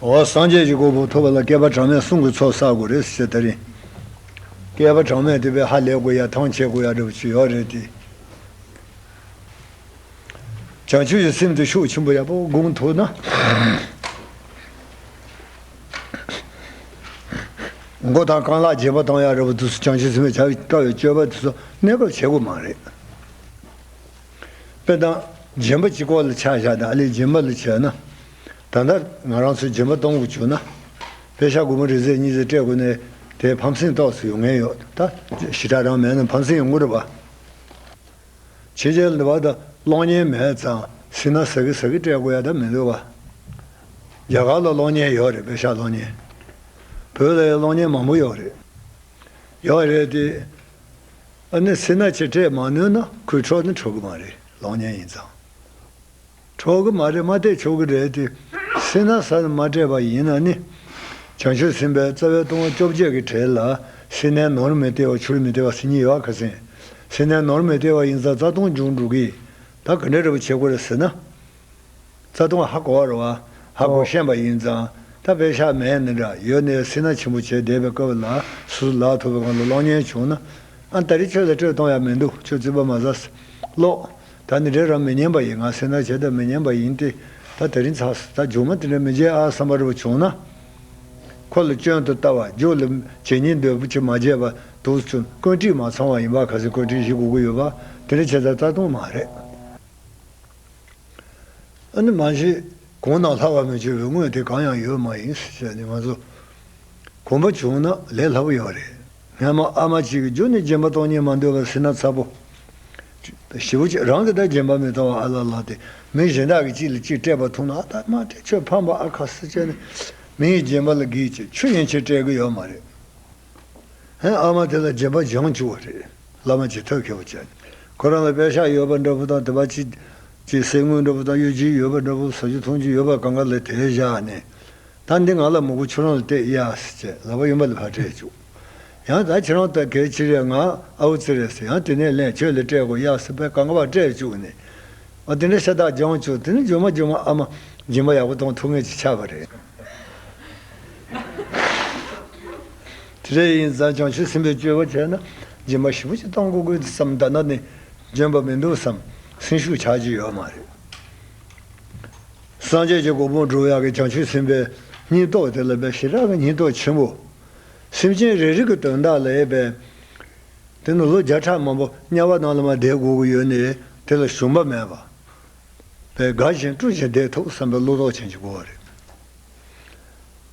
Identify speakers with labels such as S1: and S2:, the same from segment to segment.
S1: སངས་རྒྱས་ཀྱི་དགོས་པ་ཐོབ་པ་ལ་བསྐལ་པ་གྲངས་མེད་གསུང་གི་ཚོགས་བསགས་དགོས་རེད་ཟེར་ད་རིང། བསྐལ་པ་གྲངས་མེད་དེ་བས་ཧ་ལས་དགོས་ཡ་ཐང་བྱེད་དགོས་ཡ་འདྲ་པོ་ཅི་ཡོད་རེད་དེ། བྱང་ཆུབ་ཀྱི་སེམས་དེ་ཤུགས་ཆེན་པོ་ཡག་པོ་དགོངས་ཐུབ་ན། མགོ་དང་རྐང་ལག་རྗེས་མ་གཏོང་ཡ་རེད་པོ་འདུག་སུ་ཅང་ཤི་ཟིན་པའི་བྱ་དཀའ་བའི་སྤྱོད་པ་དེ་ཚོ་གནས་སྐབས་བྱེད་དགོས་མ་རེད། དཔེར་ན། རྗེན་པ་གཅིག་ཁོག་ལ་ཆགས་བཞག་དང་ཨ་ལས་རྗེན་པ་ལ་བྱས་ན། ད་ལྟ་ང་རང་ཚོས་རྗེན་པ་གཏོང་དགོས་བྱུང་ན། བེ་ཤ་དགུ་མ་རེ་ཟད་གཉིས་ཟད་སྤྲད་དགོས་ནའི་དེ་ཕམ་སེང་རྟོགས་སུ་ཡོང་ངེས་ཡོད་ད། ཞི་དྲག་རང་མེད་ན་ཕམ་སེང་ཡོང་གི་རེད་པ། ཕྱི་རྒྱལ་ལི་བ་དང་གློག་བརྙན་མེད་ཙང་སི་ན་ཟ་གི་ཟ་གི་སྤྲད་དགོས་ཡ་ད་མི་འདུག་བ། རྒྱ་གར་ལ་གློག་བརྙན་ཡོག་རེད་བེ་ཤ་གློག་བརྙན། བོད་ལ་ཡང་གློག་བརྙན་མང་པོ་ཡོག་རེད། ཡོག་རེད་དེ། ཨ་ནི་སི་ན་ཆེ་སྤྲད་མ་ནུས་ན་ཁོའི་འཕྲོ་ནི་འཕྲོ་གི་མ་རེད་གློག་བརྙན་ཡིན་ཙང། གྲོགས་ཀྱི་མ་རེད་མ་སྟེ་མཆོག་གི་རེད་དེ། སྲིད་ན་ས་ནི་མ་སྤྲད་པ་ཡིན་ན་ནི། བྱང་ཆུབ་སེམས་དཔའི་རྩ་བའི་ལྟུང་བ་བཅོ་བརྒྱད་ཀྱི་གྲས་ལ། སྲིད་ནས་ནོར་མི་སྟེར་བ་ཆུར་མི་སྟེར་བ་སྲིད་ཉིད་ཡོད་ག་ཟིན། སྲིད་ནས་ནོར་མི་སྟེར་བ་ཡིན་ཙང་རྩ་ལྟུང་འབྱུང་འགྲོ་གི། ད་ག་འདྲའི་རེ་བ་བྱེད་དགོས་རེད་ཟེར་ན། རྩ་ལྟུང་ཧ་གོ་བ་རེད་བ། ཧ་གོ་ཤེས་པ་ཡིན་ཙང་ད་དཔེ་ཞག་མེད་ནི་འདྲ་ཡོད་ནས་སྲིད་ན་ཆེན་པོ་བྱས་བསྡད་པའི་སྐབས་ལ་སོ་སོ་ལག་ཐུབ་པའི་སྒང་ལ་གློག་བརྙན་བྱུང་ན། ཨ་ད་རི་ཁྱོད་ལ་སྤྲོད་གཏོང་ཡག་མི་འདུག་ཁྱོད་རྩིས་པ་མ་ཟ། གློག། ད་འདི་འདྲའི་རང་མི་སྙན་པ་ཡིན་ང་སེར་ནག་བྱས་ད་མི་སྙན་པ་ཡིན་ཏེ་ད་ད་རིང་ཚགས་ད་ཇོ་མོ་དེ་འདྲ་མི་བྱེད་ཨ་བསམ་པ་རེ་བ་བྱུང་ན། ཁོ་ལ་སྐྱོན་དུ་ལྟ་བ་རྒྱུགས་ལ་བྱས་ཉིན་འདོད་པོ་ཆེ་མ་བརྗེད་པ་དུག་ཚོན་བཀོད་བྲིས་མ་ཚང་བ་ཡིན་པ་ག་ཚོད་བཀོད་བྲིས་ཞིག་གོ་གི་ཡོད་པ་དེ་འདྲ་བྱས་ད་རྩ་སྟོང་མ་རེད། ཨ་ནི་མ་བྱེད། གོང་ནང་ལྷག་བ་མི་བྱེད་པའི་དངོས་དེ་གང་ཡང་ཡོད་མ་ཡིན་ཟེར་བྱས་ནས་ང་ཚོ་གོམས་པ་བྱུང་ན་ལས་སླ་པོ་ཡོང་རེད། སྔན་མ་ཨ་མ་གཅིག་གི་རྒྱུ་ནས་རྗེན་པ་གཏོང་ཉེན་མ་འདོད་པར་སྲིད་ན་ཚ་པོ། བཞི་བོ་གཅིག་རང་གི་དག་རྗེན་པ་མི་གཏོང་བ་ཨ་ལ་ལ་སྟེ་མི་གཞན་དག་གིས་གཅིག་ལ་གཅིག་སྤྲད་པ་མཐོང་ན་ཨ་ད་མ་སྤྲད་ཁྱོད་ཕམ་པ་ཨ་ཁ་སེ་ཅན་ནི་མི་ཡི་རྗེན་པ་ལ་གིས་ཀྱི་ཆུ་ཡན་ཆད་སྤྲད་གི་ཡོད་མ་རེད། ཧན་ཨ་མ་དེ་ལ་རྗེན་པ་སྦྱང་བཅུག་བ་རེད་བླ་མ་ཇི་ཐོད་མཁས་པོ་ཅན་ཁོ་རང་ལ་དཔེ་ཤག་ཡོད་པ་འདྲ་བོ་དང་དེ་བ་ཅི། ཅི་ཟེར་དངུལ་འདྲ་བོ་དང་གཡོ་སྒྱུ་ཡོད་པ་འདྲ་བོ་ཟ་རྒྱུ་འཐུང་རྒྱུ་ཡོད་པ་གང་ག་ལ་དེ་བཞག་ནས། ད་འདི་ང་ལ་མོ་གོ་ཁྱོད་རང་ལ་གཏད་ཡཱས་ཅེས་ལག་པ་ཡུམ་བ་ལ་བར་སྤྲད་བཅུག། ཡང་ད་ཁྱེད་རང་ལྟ་གལ་ཅི་རེད་ང་ཨའུ་ཙི་རེད་ཟེར་ཡང་དེ་ནས་ལན་ཁྱོད་ལ་སྤྲད་གོ་ཡཱས་པད་གངྒ་བར་སྤྲད་བཅུག་ནས། ཨ་དེ་འདྲ་ཤ་སྟག་སྦྱང་བཅུག་དེ་ནི་རྗུན་མ་རྗུན་མ་ཨ་མ་སྦྱིན་པ་ཡག་པོ་གཏོང་ཐུབ་ངེས་ཀྱི་ཆ་བ་རེད། དེ་འདྲ་ཡིན་ཙང་བྱང་ཆུབ་སེམས་པའི་སྤྱོད་པ་བྱས་ན་སྦྱིན་པ་ཞིབ་པོ་ཅིག་གཏོང་གོ་དགོས་དེ་ཙམ་ལྟ་ན་ནི་འཇོན་པ་མི་འདུག་བསམ་སེམས་ཤུགས་ཆགས་ཀྱི་ཡོད་མ་རེད། སངས་རྒྱས་ཀྱི་གོ་འཕང་བསྒྲུབ་ཡག་གི་བྱང་ཆུབ་སེམས་དཔའི་སྙིང་སྟོབས་དེ་ལ་བའི་ཞེ་དྲག་གི་སྙིང་སྟོབས་ཆེན་པོ། སེམས་ཅན་རེ་རེ་གི་དོན་དག་ལ་ཡས་པས། དེ་ནི་ལོ་བརྒྱ་ཕྲག་མང་པོ་དམྱལ་བ་ནང་ལ་མ་བསྡད་དགོས་ཀྱི་ཡོད་ནི་དེ་ལ་ཞུམ་པ་མེད་པ། བས་དགའ་ཞིང་སྤྲོ་ཞིང་བདེ་ཐུབ་བསམ་པའི་བློ་དོགས་ཅན་གྱི་གོ་བ་རེད།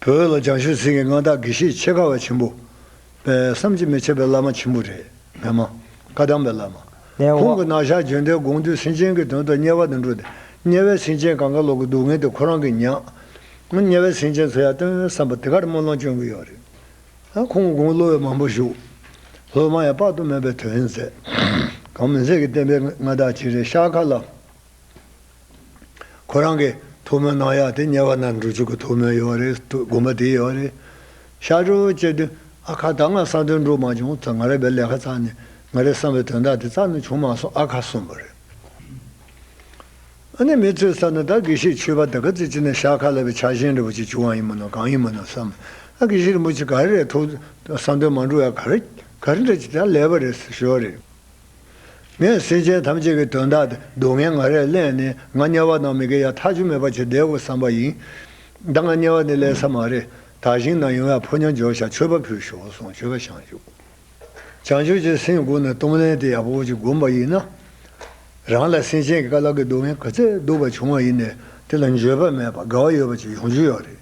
S1: བོད་ལ་བྱང་ཆུབ་སེམས་ཀྱི་མངའ་བདག་དགེ་བཤེས་ཆེ་ཁ་བ་ཆེན་པོ། བསམ་གྱིས་མི་ཁྱབ་པའི་བླ་མ་ཆེན་པོ་རེད། མེད་མ། བཀའ་གདམས་པའི་བླ་མ། ཁོང་གི་ནང་ཞག་བརྗོད་འདས་དགོངས་འདུས་སེམས་ཅན་གྱི་དོན་དུ་དམྱལ་བ་དུ་འགྲོ་སྟེ། དམྱལ་བའི་སེམས་ཅན་གང་ག་ལོག་གི་སྡུག་བསྔལ་དེ་ཁོ་རང་གིས་མྱངས། དམྱལ་བའི་སེམས་ཅན་ཚོ་ཡར་སྟོན་བསམ་པ་དེ་གར་སྨོན་ལམ་བསྐྱོན་གྱི་ཡོད་རེད། ཁོང་གི་དགུང་གློ་བའི་མང་པོ་བཞུགས། སློབ་མ་ཡང་དཔག་ཏུ་མེད་པའི་དོན་མཛད། གང་མི་མཛད་ཀྱི་བསྟན་པའི་མངའ་བདག་ཅིག་རེད་ཤར་ཁ་ལ། ཁོ་རང་གི་ཐུགས་སྨོན་གནང་ཡག་དེ་གཉེར་བ་རྣམས་འགྲུལ་ཆུག་གི་ཐུགས་སྨོན་ཡོད་རེད་དགོངས་པ་དེ་ཡོད་རེད། ཤར་གྲོལ་བོ་ཅེ་དུས་ཨ་ཁ་ད་ང་ས་དོན་འགྲུབ་མ་བྱུང་ཙང་ང་རེ་བའི་ལས་ཁ་ཙང་ནས་ང་རེ་བསམ་པའི་དོན་དག་དེ་ཙང་ནས་བྱུང་མ་སོང་ཨ་ཁ་གསུངས་པ་རེད། ཨ་ནེ་མི་ཚོས་བསམ་ན་ད་དགེ་བཤེས་ཆོས་པ་དེ་ག་ཚོད་ཅིག་ནས་ཤར་ཁ་ལ་བའི་ཆ་ཞེན་རེ་བོ་ཅིག་བྱུང་བ་ཡིན་མིན་ནམ་གང་ཡིན་མིན་ནམ་བསམ། ཨ་དགེ་བཤེས་རིན་པོ་ཆེ་ག་རེ་རེད་ཐུགས་བསམ་དོན་མ་འགྲུབ་ཡ་ག་རེ་ག་རེ་འདྲ་ཅིག་ད་ལས་པ་རེད་ཟེར་ཞོར་རེད། ངས་སེམས་ཅན་ཐམས་ཅད་ཀྱི་དོན་དག་དེ་སྡུག་བསྔལ་ང་རེ་གླེང་ནས་ང་དམྱལ་བ་ནང་མི་དགེ་ཡང་ཐག་ཆོད་མེད་པ་བྱེད་བདེ་བོ་བསམ་པ་ཡིན། ད་ང་དམྱལ་བ་ནས་གླེང་ས་མ་རེད་དག་ཞིང་ན་ཡོང་ཡག་ཕོ་ཉར་འཇོག་བྱ་མཆོད་པ་ཕུལ་ཞོག་སོང་མཆོད་པ་བྱང་ཆུབ་བྱང་ཆུབ་ཀྱི་སེམས་སྒོ་ནས་གཏོང་ལེན་དེ་ཡག་པོ་ཅིག་བསྒོམ་པ་ཡིན་ན། རང་ལ་སེམས་ཅན་གྱི་དཀའ་ལག་གི་སྡུག་བསྔལ་ག་ཚད་སྡུག་པ་བྱུང་བ་ཡིན་ནས་དེ་ལ་འགྱོད་པ་མེད་པ་དགའ་བ་ཡོད་པ་ཅིག་ཡོང་རྒྱུ་ཡོད་རེད།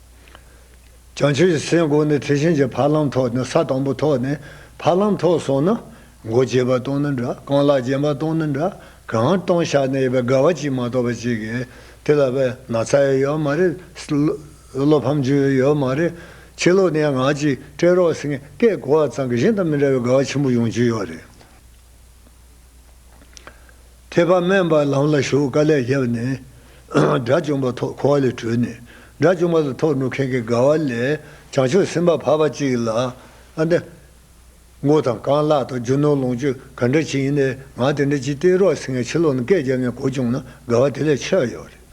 S1: བྱང་ཆུབ་ཀྱི་སེམས་སྒོ་ནས་དེ་བཞིན་གྱི་ཕ་ལམ་ཐོག་ནས་ས་དང་པོ་ཐོག་ནས་ཕ་ལམ་ཐོག་སོང་ན། མགོ་བཅད་པ་དང་ནི་འདྲ་རྐང་ལག་བརྒྱན་པ་དང་ནི་འདྲ་གང་སྟོང་ཤར་ནས་ཡོད་པའི་དགའ་བ་གཅིག་མ་གཏོགས་པ་ཅིག་གིས་དེ་ལ་བས་ན་ཚ་ཡོད་ཡོད་མ་རེད། བློ་ཕམ་བྱུང་ཡོད་ཡོད་མ་རེད། ཕྱི་ལོགས་ནས་ཡང་ངག་ཅིག་སྤྲད་རོགས་ཟེར་མཁན་སྐད་གོ་བ་ཙམ་གྱིས་གཞན་དང་མི་འདྲ་བའི་དགའ་བ་ཆེན་པོ་ཡོང་གྱི་ཡོད་རེད། ཐེག་པ་དམན་པ་ལམ་ལ་ཞུགས་དཀའ་ལས་བརྒྱབ་ནས། དགྲ་བཅོམ་པ་ཐོག་འཁོར་བ་ལས་གྲོལ་ནས། དགྲ་བཅོམ་པ་དང་ཐོག་འགྲོ་མཁན་གྱི་དགའ་བ་ལས་བྱང་ཆུབ་སེམས་དཔའ་འཕགས་པ་གཅིག་ལ། མགོ་དང་རྐང་ལག་དང་རྒྱུ་ནོར་ལོངས་སྤྱོད་ག་འདྲ་ཅིག་ཡིན་ནའི་ང་དེ་འདྲ་ཅིག་སྟེར་རོགས་ཟེར་ནས་ཕྱི་ལོགས་ནས་སྐད་བརྒྱབ་ནས་གོ་བྱུང་ན་དགའ་བ་དེ་ལས་ཆེ་བ་ཡོད་རེད།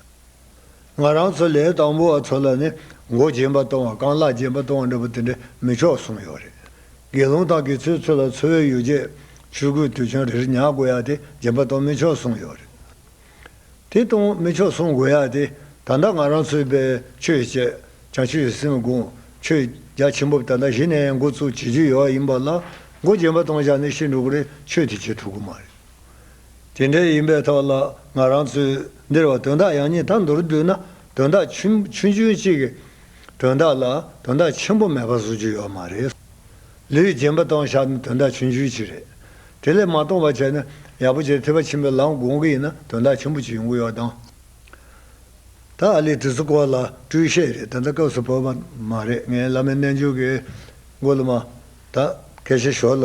S1: ང་རང་ཚོ་ལས་དང་པོ་བ་ཚོ་ལ་ནི་མགོ་རྗེན་པ་གཏོང་བ་རྐང་ལག་རྗེན་པ་གཏོང་བ་འདྲ་པོ་དེ་འདྲས་མི་ཆོག་གསུངས་ཡོད་རེད། དགེ་སློང་དང་དགེ་ཚུལ་ཚོ་ལ་འཚོ་བའི་ཡོ་བྱད་ཆོས་གོས་དུད་ཆང་རེ་རེ་ཉག་དགོས་ཡག་དེ་རྗེན་པ་གཏོང་མི་ཆོག་གསུངས་ཡོད་རེད། དེ་གཏོང་མི་ཆོག་གསུངས་དགོས་ཡག་དེ་ད་ལྟ་ང་རང་ཚོའི་པའི་ཆོས་བྱས་ཀྱང་ཆོས་སྲིད་མི་དགོངས་ཆོས་རྒྱ་ཆེན་པོ་ད་ལྟ་གཞི་ནས་མགོ་བཙུགས་བྱེད་རྒྱུ་ཡོད་ཡིན་པ་ལ་མགོ་རྗེན་པ་གཏོང་བྱ་ནི་ཤིན་ཏུ་གོ་རེ་ཆོད་དེ་བྱེད་ཐུབ་གི་མ་རེད། དེ་འདྲའི་ཡིན་པའི་ཐོག་ལ་ང་རང་ཚོས་འདིར་བ་དོན་དག་ཡང་ཉིད་དང་མདོར་བསྡུས་ན་དོན་དག་ཆུང་ཆུང་གཅིག་གི་དོན་དག་ལ་དོན་དག་ཆེན་པོ་མེད་པ་བཟོ་རྒྱུ་ཡོད་མ་རེད། ལུས་རྗེན་པ་སྟོང་ཤག་ནི་དོན་དག་ཆུང་ཆུང་གཅིག་རེད། དེ་ལས་མ་སྟོང་བ་བྱས་ན་ཡག་པོ་ཆེ་ཐེ་བ་ཆེན་པོའི་ལམ་དགོང་གི་ཡིན་ན་དོན་དག་ཆེན་པོ་གཅིག་ཡོང་གི་ཡོད་དང། ད་ཨ་ལི་དྲི་ཚོ་སྐོར་ལ་སྤྲུལ་བཤད་རེད་ད་ལྟ་སྐབས་སུ་བབ་པ་མ་རེད་ངས་བླ་མའི་རྣལ་འབྱོར་གྱི་མགོ་ལ་མ་ད་གལ་ཆེ་ཞོར་ལ།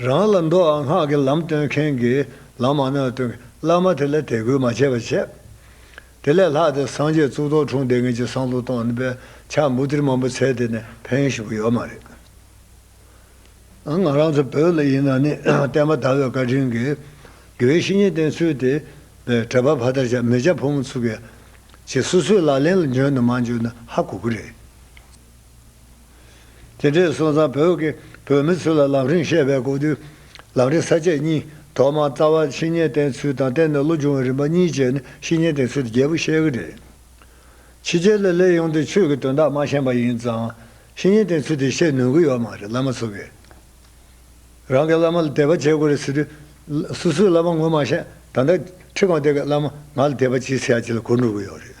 S1: རང་ལ་མདོ་ཨ་སྔགས་ཀྱི་ལམ་སྟོན་མཁན་གྱིས་ལམ་མ་ནོས་སྟོན་མཁན་བླ་མ་དེ་ལ་དད་གུས་མ་བྱས་པར་བྱས། དེ་ལས་ལྷག་དེ་སངས་རྒྱས་གཙུག་ཏོར་འཁྲུངས་དེ་ངེད་ཀྱི་བསང་གཏོར་གཏོང་ནི་པའི་ཕྱག་འབུལ་ཏིར་མ་འབུལ་ཚད་དེ་ནས་ཕན་ཞུ་གི་ཡོད་མ་རེད། ང་རང་ཚོ་བོད་ལ་ཡིན་ན་ནི་བསྟན་པ་དར་བའི་བཀའ་དྲིན་གྱིས། དགེ་བའི་བཤེས་གཉེན་བསྟེན་ཚུལ་དེ། གྲྭ་པ་ཕ་མཐར་ཆགས་མི་ཆགས་ཕོ་མོ་ཚུགས། ཅེས་སོ་སོའི་ལག་ལེན་ལ་འཇོན་དང་མ་འཇོན་ནི་ཧ་གོ་གི་རེད། དེ་འདྲའི་སོང་ཙང་བོད་ཀྱི་བོད་མི་ཚོས་ལ་ལམ་རིང་བཤད་པའི་གོ་དུས། ལམ་རིང་ས་བཅད་གཉིས་ཐོག་མར་རྩ་བ་ཕྱི་ཉིན་བསྟེན་ཚུལ་དང་བསྟེན་ནས་ལོ་བྱུང་བའི་རིམ་པ་གཉིས་བཅད་ནས་ཕྱི་ཉིན་བསྟེན་ཚུལ་དེ་རྒྱལ་པོ་བཤད་གི་རེད། ཕྱི་རྒྱལ་ལ་སླེབས་ཡོང་དུས་ཆོས་ཀྱི་དོན་དག་མ་ཤེས་པ་ཡིན་ཙང། ཕྱི་ཉིན་བསྟེན་ཚུལ་དེ་བཤད་ནུས་གི་ཡོད་མ་རེད་བླ་མ་ཚོ་གིས། རང་གི་བླ་མ་ལ་དད་པ་བྱེད་དགོས་རེད་ཟེར་དུས། སུ་སུའི་བླ་མ་ངོ་མ་ཤེས་ད་ལྟ་ཁྲི་གང་དེ་གའི་བླ་མ་ང་ལ་དད་པ་ཅི་ཟེར་ཡ་ཅི་ལ་གོ་འགྲོ་གི་ཡོད་རེད།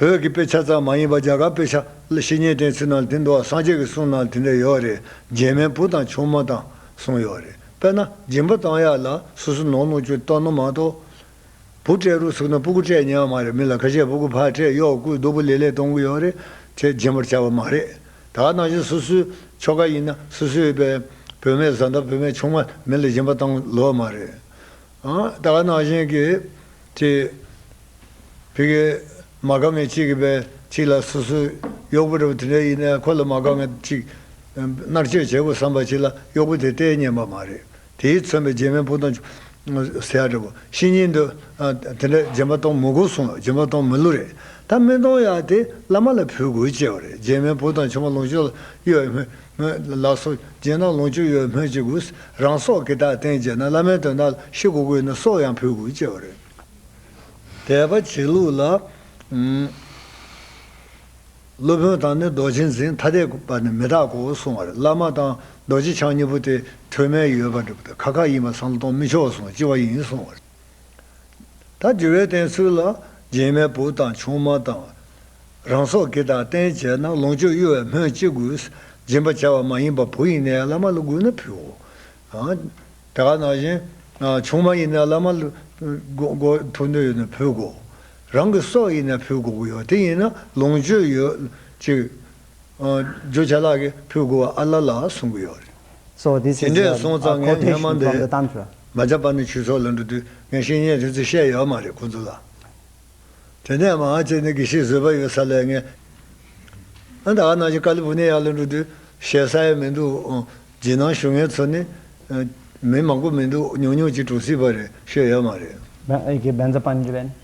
S1: བོད་ཀྱི་དཔེ་ཆ་ཙམ་མ་ཡིན་པར་རྒྱ་གར་དཔེ་ཆ་ལ་བཤེས་གཉེན་བསྟེན་ཚུལ་རྣམས་དེ་འདྲ་བ་སངས་རྒྱས་ཀྱི་གསུང་རྣམས་དེ་འདྲ་ཡོད་རེད་རྗེས་མའི་བུ་དང་ཆུང་མ་དང་གསུང་ཡོད་རེད་དཔེར་ན་སྦྱིན་པ་བཏང་ཡག་ལ་སོ་སོ་ནོར་ནོར་ཅུང་བཏང་ན་མ་གཏོགས། བུ་སྤྲད་རུ་ཚུགས་ན་སྤུ་གུ་སྤྲད་ཉག་མ་རེད་མི་ལ་ཁ་ཆད་སྤུ་གུ་ཕར་སྤྲད་གཡོག་སྐུའི་རྡོ་སྤུ་ལེ་ལེ་གཏོང་གི་ཡོད་རེད་ཅེས་སྦྱིན་པར་བྱ་བ་མ་རེད་ད་ནང་བཞིན་སོ་སོའི་ཆོ་ག་ཡིན་ན་སོ་སོའི་བོད་མའི་བཟའ་ཟླ་བོད་མའི་ཆུང་མ་མི་ལ་སྦྱིན་པ་བཏང་ལོས་མ་རེད། ད་ག་ནང་བཞིན་གྱི་དེ། བི་གའི་མ་དགའ་མེད་གཅིག་གི་བའི་གཅིག་ལ་སོ་སོའི་གཡོག་པོ་འདྲ་བོ་དེ་འདྲ་ཡིན་ནའི་ཁོ་ལ་མ་དགའ་མེད་གཅིག། མནར་གཅོད་བྱེད་དགོས་བསམ་པ་གཅིག་ལ་གཡོག་པོ་དེ་ལྟའི་སྙན་པ་མ་རེད་དེས་མཚོན་པའི་རྗེས་མའི་སྤུ་དང། ཟས་ཡག་འདྲ་བོ་ཤི་ཉིན་དུ། དེ་འདྲ་སྦྱིན་པ་གཏོང་མི་དགོས་གསུངས་ལ་སྦྱིན་པ་གཏོང་མི་བསླུ་རེད་ད་སྨན་གཏོང་ཡག་དེ་བླ་མ་ལ་ཕུལ་དགོས་བཅས་བ་རེད་རྗེས་མའི་སྤུ་དང་ཆུང་མ་ལོངས་སྤྱོད་ལ་གཡོལ། སྨོད། ལགས་སོ། རྗེས་གནང་ལོངས་སྤྱོད་ཡོད་སྨོས་ཅི་དགོས། རང་སྲོག་གི་དག་བསྟན་བྱས་ན་བླ་མའི་དོན་དག་ལ་ཤི་གོ་དགོས་ན་སྲོག་ཡང་ཕུལ་དགོས་ཅེས་པ་རེད། དད་པ་བྱེད་ལུགས་ལ། སློབ་དཔོན་དང་ནི་རྡོ་རྗེ་འཛིན་ཐ་དད་པ་ནི་མི་རྟག་གོ་གསུང་བར་བླ་མ་དང་རྡོ་རྗེ་འཆང་གཉིས་པོ་དེ་ཐོས་མལ་ཡོད་པ་འགྲུབ་ཐབས་ཁ་ཁ་ཡིན་པ་སང་ལོ་གཏོང་མི་ཆོག་གསུང་ལྕི་བ་ཡིན་གསུང་བར། ད་དགེ་བའི་བསྟེན་ཚུལ་ལ་རྗེས་མའི་བུ་དང་ཆུང་མ་དང། རང་སྲོག་གི་དང་བསྟེན་བྱས་ན་ལོངས་སྤྱོད་གཡོ་བའི་སྨོས་ཅི་དགོས། སྦྱིན་པ་བྱ་བ་མ་ཡིན་པར་བུ་ཡིན་ནའི་བླ་མ་ལ་བསྒུགས་ན་ཕུའོ། དེ་ག་ནང་བཞིན། ཆུང་མ་ཡིན་ནའི་བླ་མ་ལ་ཕུ་འདོད་ཡོད་ན་ཕུ་དགོ། རང་གི་སྲོག་ཡིན་ནའི་ཕུ་དགོ་གི་ཡོད་དེ་ཡིན་ན་ལོངས་སྤྱོད་ཡོད་ཅིག། བརྗོད་བྱ་ལག་གི་ཕུད་དགུ་བ་ཨ་ལ་ལ་གསུང་གི་ཡོད་རེད།
S2: དེ་འདྲས་སོང་ཙང་ངས་སྔོན་མ་འདི་མ་བྱ་བར་ནས་ཁྱོད་ཚོ་ལ་
S1: འགྲོ་དུས་ངས་བཤེས་གཉེན་རེད་ཚོད་བཤད་ཡོད་མ་རེད་ཁོང་ཚོ་ལ། དེ་ནས་མ་ང་ཅེ་ནི་གི་ཤིག་བཟོས་པ་ཡོད་ས་ལས་ངས། ཨ་ད་ཨ་ནང་བཞིན་ཀ་ལི་ཕུ་ནེ་ཡ་ལ་འགྲོ་དུས་བཤད་ས་ཡ་མི་འདུག་རྗེས་གནང་ཞུ་མཁན་ཚོ་ནི། མི་མང་པོ་མི་འདུག་ཉུང་ཉུང་ཅིག་གྲོངས་སྲིད་པ་རེད་ཤོད་ཡོད་མ་རེད། བན་ཨེར་གྱི་
S2: བན་ཛ་པན་ཇི་བན།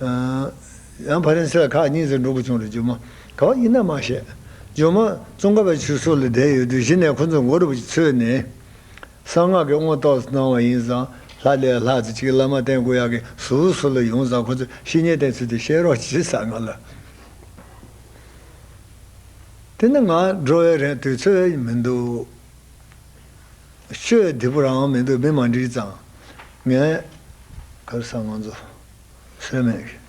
S2: ཡང་ཕ་རན་སི་ལ་ཁག་གཉིས་རྩེ་འགྲོ་དགོས་བྱུང་རེད་ཇོ་མོ་
S1: ག་བ་ཡིན་ན་མ་བཤད། ཇོ་མོ་ཙོང་ཁ་བའི་ཆུ་སོ་ལ་བསྡད་ཡོད་དུས་གཞི་ནས་ཁོ་ཚོ་མགོ་རུབ་ཀྱིས་འཚོས་ནས་གསང་སྔགས་ཀྱི་མངོན་རྟོགས་སུ་སྣང་བ་ཡིན་ཙང་ལྷ་ལས་ལྷག་ཙི་གཅིག་བླ་མ་བསྟན་དགོས་ཡག་གི་ཟུར་བུ་སོ་ལ་ཡོང་ཙང་ཁོ་ཚོས་བཤེས་གཉེན་བསྟེན་ཚུལ་དེ་བཤད་རོགས་གྱིས་ས་ང་ལ། དེ་ནི་ང་འགྲོ་བའི་རན་དུས་ཚོད་མི་འདུག། ཆོས་བདེ་པོ་རང་མི་འདུག་མི་མ་འགྲིག་ཙང་ངས།
S2: ཁར་སང་ང་ཚོ། སེམས་མེད་ཀྱི།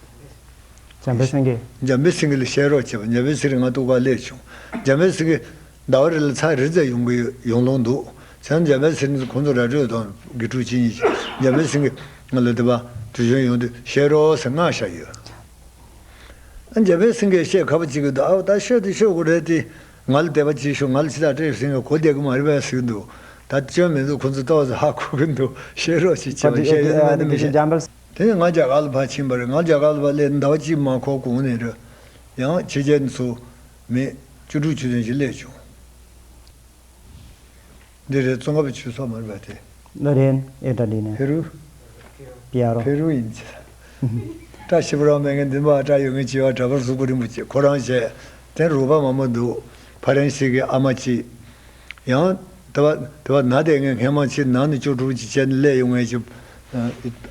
S2: འཇམ་པའི་སེང་གེ། འཇམ་པའི་སེང་གེ་ལ་བཤད་རོགས་བྱས་པ་འཇམ་པའི་ཚིག་རིང་ང་ལྟུག་
S1: པ་ལས་བྱུང། འཇམ་པའི་སེང་གེ། ཟླ་བ་རེ་ལ་ཚ་རེ་ཙལ་ཡོང་གི་ཡོད་ཡོང་ལོང་འདུག་བྱང་འཇམ་པའི་སེང་གེ་ཁོང་ཚོ་ར་སྤྲོད་དང་དགེ་ཕྲུག་ཅི་གཉིས་ཀྱིས་འཇམ་པའི་སེང་གེ། ང་ལ་དེ་བ། དུས་ཆེན་ཡོང་དུས་བཤད་རོགས་ཟེར་མངགས་བཞག་ཡོད། འཇམ་པའི་སེང་གེ་བཤད་ག་པ་ཅིག་གི་འདུག་ཨ་བ་ད་ཤོད་དུ་ཤོད་དགོས་རེད་དེ། ང་ལ་དད་པ་ཅིག་ཞུ་ང་ལ་ཕྱི་དག་སྤྲད་ཟིན་པའི་གོ་བདེ་གི་མ་རེད་པ་ཞིག་འདུག་ད་སྐྱོན་མེད་འདུག་ཁོང་ཚོ་ཏོག་ཙེ་ཧ་གོ་གི་འདུག་བཤད་རོགས་ཅིག་བྱས་པ་བཤད་ཡོད་ན་མེད་ན་མི་བཤད། དེ་ནས་ང་རྒྱ་གར་ལ་ཕར་ཕྱིན་པ་རེད་ང་རྒྱ་གར་ལ་བ་སླེབས་ཟླ་བ་གཅིག་མ་འཁོར་གོང་ནས་རེད། ཡང་ཕྱི་རྒྱལ་ནས་ཚོགས་མི་བཅུ་དྲུག་ཅུ་ཙམ་ཞིག་སླེབས་བྱུང། འདི་རེད་ཙོང་ཁ་པའི་ཆུ་ཚོགས་མར་བབས་ཏེ། ཨ་རན།
S2: ཨེ་ཏ་ལི་ནས། ཕེ་རུ། པི་ཨ་རོ། ཕེ་རུ་ཡིན།
S1: བཀྲ་ཤིས་པོ་རང་མེད་ངན་འདི་མ་བཀྲ་ཡོད་ངན་ཅི་བ་འདྲ་པར་གཟུགས་པོ་རིང་པོ་ཁོ་རང་བྱས། དེ་རུ་བ་མང་པོ་འདུག་ཕ་རན་སི་གི་ཨ་མ་གཅིག། ཡང། དེ་བ་དེ་བ་ན་དེ་ངས་ངན་མང་ཕྱིར་ནང་ནས་ཅོ་དྲུག་ཅིག་བཅད་ནས་བསླས་ཡོང་ངས་ཅི།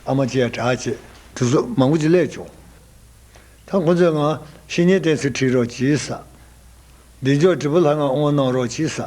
S1: ཨ་མ་ཅི་ཡ་གྲགས་ཅེས་གྲུ་གཟུགས་མང་པོ་ཅིག་བསླས་བྱུང། ད་ཁོ་ཚོས་ང་བཤེས་གཉེན་བསྟེན་ཚུལ་དྲིས་རོགས་ཅིས་ས། འདི་འཇོག་དྲིལ་བུ་ལྷ་ངང་ཨོང་གནང་རོགས་ཅིས་ས།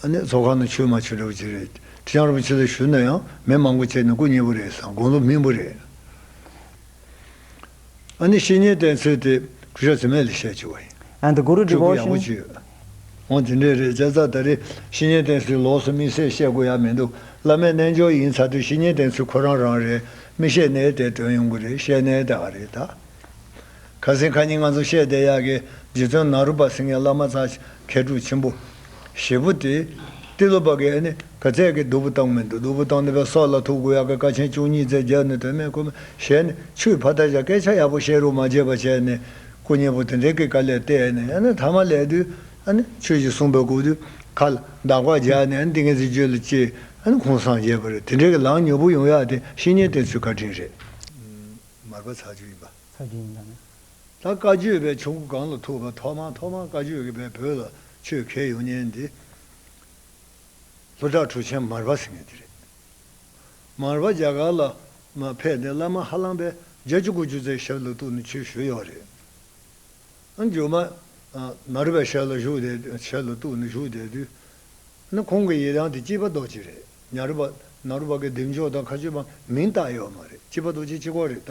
S1: ཚོགས་ཁང་ནང་ཆོས་མ་འཆད་གྲོགས་གཅིག་རེད། ཁྲི་བྱང་རིན་པོ་ཆེ་ལ་ཞུ་ན་ཡང་མི་མང་པོ་བཅས་ནས་སྐུ་མཉེས་པོ་རེད་བསམ་དགོངས་ལུགས་སྨིན་པོ་རེད། ཨ་ནི་བཤེས་གཉེན་བསྟེན་ཚུལ་དེ་སྐུ་ཞབས་ཚེ་མེད་ལས་བཤད་བྱུང་བ་ཡིན། And the Guru སྤྲུལ་
S2: སྐུ་ཡག་པོ Devotion། བྱུས་ཡོད།
S1: འོང་དེ་འདྲས་རེད་བྱས་ཙང་ད་རེས་བཤེས་གཉེན་བསྟེན་ཚུལ་ལོགས་སུ་དམིགས་བསལ་བཤད་དགོས་ཡ་མི་འདུག་བླ་མའི་རྣལ་འབྱོར་ཡིན་ཚར་དུས་བཤེས་གཉེན་བསྟེན་ཚུལ་ཁོ་རང་རང་རེད་མི་བཤད་ནའི་དེ་དོན་ཡོང་གི་རེད་བཤད་ནའི་དེ་ཨ་རེད་ད། ཁ་སིང་ཁ་ཉིན་ང་ཚོ་བཤད་བསྡད་ཡག་གི་རྗེ་བཙུན་ནཱ་རུ་པ་སིང་ངའི་བླ་མ་ཚ་མཁས་གྲུབ་ཆེན་པོ། ཞེ་བུ་སྟེ། ཏི་ལོ་པ་གའི་ནི་ག་ཚད་ཀྱི་གདུ་བུ་བཏང་མི་འདུག་གདུ་བུ་བཏང་ནི་བའི་སྲོག་ལ་ཐུག་གུ་ཡག་གི་ཀ་ཆེན་བཅུ་གཉིས་བཙལ་རྒྱག་ནི་དོན་མེད་ཁུ་མ་བྱས་ནི་ཆུའི་ཕ་ད་ཞག་སྐད་ཆ་ཡག་པོ་བཤད་རུང་མ་བརྗེད་པ་བྱས་ནི་སྐུ་མཉེས་པོ་དེ་འདྲས་ཀྱི་ཀ་ལས་བལྟས་ནི་ཡ་ནི་ཐ་མ་ལས་དུས་ཨ་ནི་ཁྱོད་ཀྱིས་གསུངས་པའི་གུ་དུས་ཁ་ལ་འདག་པ་རྒྱག་ནི་ཨ་ནི་ཏིང་ངེ་འཛིན་བརྗོད་ལ་ཅི་ཨ་ནི་ཁུངས་སངས་རྒྱས་པ་རེད་དེ་འདྲས་ཀྱི་ལངས་མྱུར་པོ་ཡོང་ཡག་དེ་བཤེས་གཉེན་བསྟེན་ཚུལ་བཀའ་དྲིན་རེད། མར་པ་ཚ་ཆུ་ཡིན་པ། ཚ་རྒན་ཡིན་ད་ནི།
S2: ད་བཀའ་
S1: བརྒྱུད་པའི་ཆོས་སྐུ་གང་ལ་ཐུག་པ་ཐོག་མ་ཐོག་མ་བཀའ་བརྒྱུད་ཀྱི་པའི་བོད་ལ་ཆོས་མཁས་ཡོང་ཉེན་འདི། ལྷོ་བྲག་གྲུ་ཆེན་མར་པ་ཟེར་ངེས་དེ་རེད། མར་པ་རྒྱ་གར་ལ་མ་ཕེབས་ནས་བླ་མ་ཧ་ལམ་པས་རྒྱ་བཅུ་དགུ་བཅུ་རྩའི་ཞབས་ལ་གཏུགས་ནས་ཆོས་ཞུ་ཡོད་རེད། རྒྱུ་མ། མར་པའི་ཞབས་ལ་བཞུགས་དེ་ཞབས་ལ་གཏུགས་ནས་བཞུགས་བསྡད་དུས། ན་ཁོང་གི་ཡི་དམ་དེ་སྐྱིད་པ་རྡོ་རྗེ་རེད་ཉར་པ། ནར་པ་ཀའི་སྡིག་འཇོག་དང་ཁ་ཆུ་མ་མིང་བཏགས་ཡོད་མ་རེད་སྐྱིད་པ་རྡོ་རྗེ་སྐྱིད་ཁོ་རེད་ད་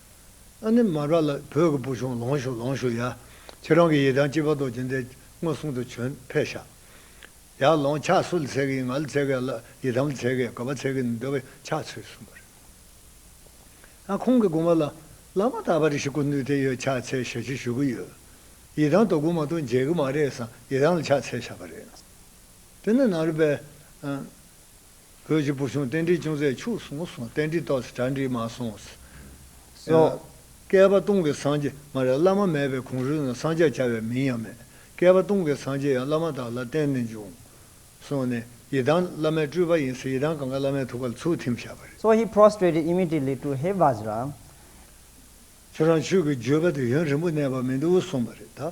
S1: ཨ་ནེ་མ་ར་ལ་བོད་ཀྱི་བུ་ཆུང་ལོངས་ཤུགས་ལོངས་ཤུགས་ཡ། ཁྱེད་རང་གི་ཡི་དམ་སྐྱིད་པ་རྡོ་རྗེ་འདས་མངོན་སུམ་དུ་བྱོན་ཕེ་ཤ། ཡ་ལོངས་ཕྱག་སུ་ལ་འཚལ་གི་ཡིན་ང་ལ་འཚལ་གི་ཨ་ལ་ཡི་དམ་ལ་འཚལ་གི་ག་བ་འཚལ་གི་འདི་བས་ཕྱག་ཚོད་གསུམ་པ་རེད། ཨ་ཁོང་གི་དགོངས་པ་ལ་བླ་མ་དག་པ་རེ་ཞིག་སྐུ་ནུས་དེ་ཡོད་ཕྱག་འཚལ་ཞལ་ཕྱིར་ཞུ་གི་ཡོད། ཡི་དམ་དོ་དགོང་མ་གཏོང་མཇལ་གི་མ་རེད་བསམ་ཡི་དམ་ལ་ཕྱག་འཚལ་བཞག་པ་རེད། དེ་ནས་ནང་རི་པའི། བོད་ཀྱི་བུ་ཆུང་རྟེན་འབྲེལ་ཅུང་ཟད་འཆུགས་སོང་སོང་རྟེན་འབྲེལ་ཏོག་གྲ་འགྲིག་མ་སོང་ཟེར། བཀལ་པ་སྟོང་གི་སངས་རྒྱས་མ་རེད་བླ་མ་མེད་པའི་གོང་རུལ་ན་སངས་རྒྱས་བྱ་བའི་མིང་ཡང་མེད། བཀལ་པ་སྟོང་གི་སངས་རྒྱས་ཡང་བླ་མ་དག་ལ་བསྟན་ནས་འབྱུང། སོང་ནས་ཡི་དམ་བླ་མའི་སྤྲུལ་པ་ཡིན་ཟེར་ཡི་དམ་གང་ག་བླ་མའི་ཐུགས་ཀ་ལ་ཚུར་ཐིམ་བཞག་པ་རེད། So he prostrated
S2: immediately to He Vajra
S1: ཁྱོད་རང་ཆོས་ཀྱི་བརྗོད་པ་དེ་ཡུན་རིང་པོ་གནས་པ་མི་འདུག་གསུངས་པ་རེད་ད།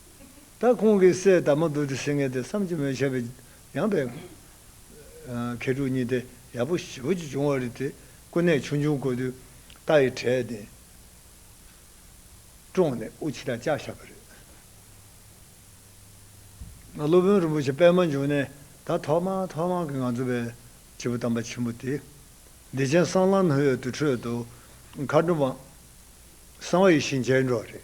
S1: ད་ཁོང་གི་སྲས་དར་མ་བདུད་དུ་སེང་གེ་དེ་བསམ་གྱིས་མི་ཁྱབ་པའི་ཡངས་པའི། མཁས་གྲུབ་གཉིས་ཏེ་ཡག་པོ་བྱེད་པོ་གཅིག་བྱུང་བ་རེད་དེ་ཀུན་ནས་ཆུང་ཆུང་དགོས་དུས། རྟ་ཡི་གྲལ་དེ། བཀྲོངས་ནས་དབུ་ཕྱི་དང་ལྕགས་བཞག་པ་རེད། ང་སློབ་དཔོན་རིན་པོ་ཆེ་པད་མ་འབྱུང་གནས་ད་ཐོག་མ་ཐོག་མ་གི་ང་ཚོ་བའི་བྱེད་པོ་དམ་པ་ཆེན་པོ་དེ། བདེ་ཆེན་གསང་ལམ་སྨོན་འོས་དུར་ཁྲོད་དུ་མཁའ་འགྲོ་མ། གསང་བ་ཡིད་བཞིན་སྤྱན་འགྲོ་རེད།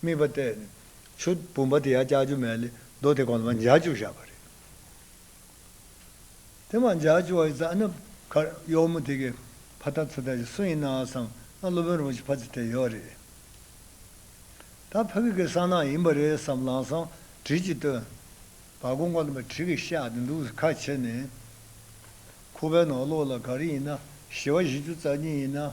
S1: དམིགས་པ་གཏད་ནས། ཆུ་བུམ་པ་དེ་ཡང་ལྕགས་ཀྱུ་མལ་ལས་རྡོ་དེ་གོང་དུ་མ་འཇགས་བཅུག་བཞག་པ་རེད། དེ་མ་འཇགས་བཅུག་བ་ཡི་རྩ་ནི། ཁར་གཡོག་མོ་དེ་གའི་ཕ་ཐག་ཚུ་ཐག་ཅིག་སུ་ཡིན་ནའང་བསམ་ན་སློབ་དཔོན་རིན་པོ་ཆེ་ཕ་ཚུ་ཐལ་ཡོད་རེད། ད་ཕ་གི་གའི་གསང་སྣང་ཡིན་པ་རེད་བསམ་ལང་སང་དྲིལ་གྱིས་བཏོན། བ་གོང་གོང་དུ་མ་དྲིལ་གྱིས་གཤགས་ཏེ་འདུག་ཁ་ཕྱེ་ནས། ཁུག་པའི་ནང་ལོགས་ལ་ག་རེ་ཡིན་ན་ཞི་བ་བཞི་བཅུ་རྩ་གཉིས་ཡིན་ན།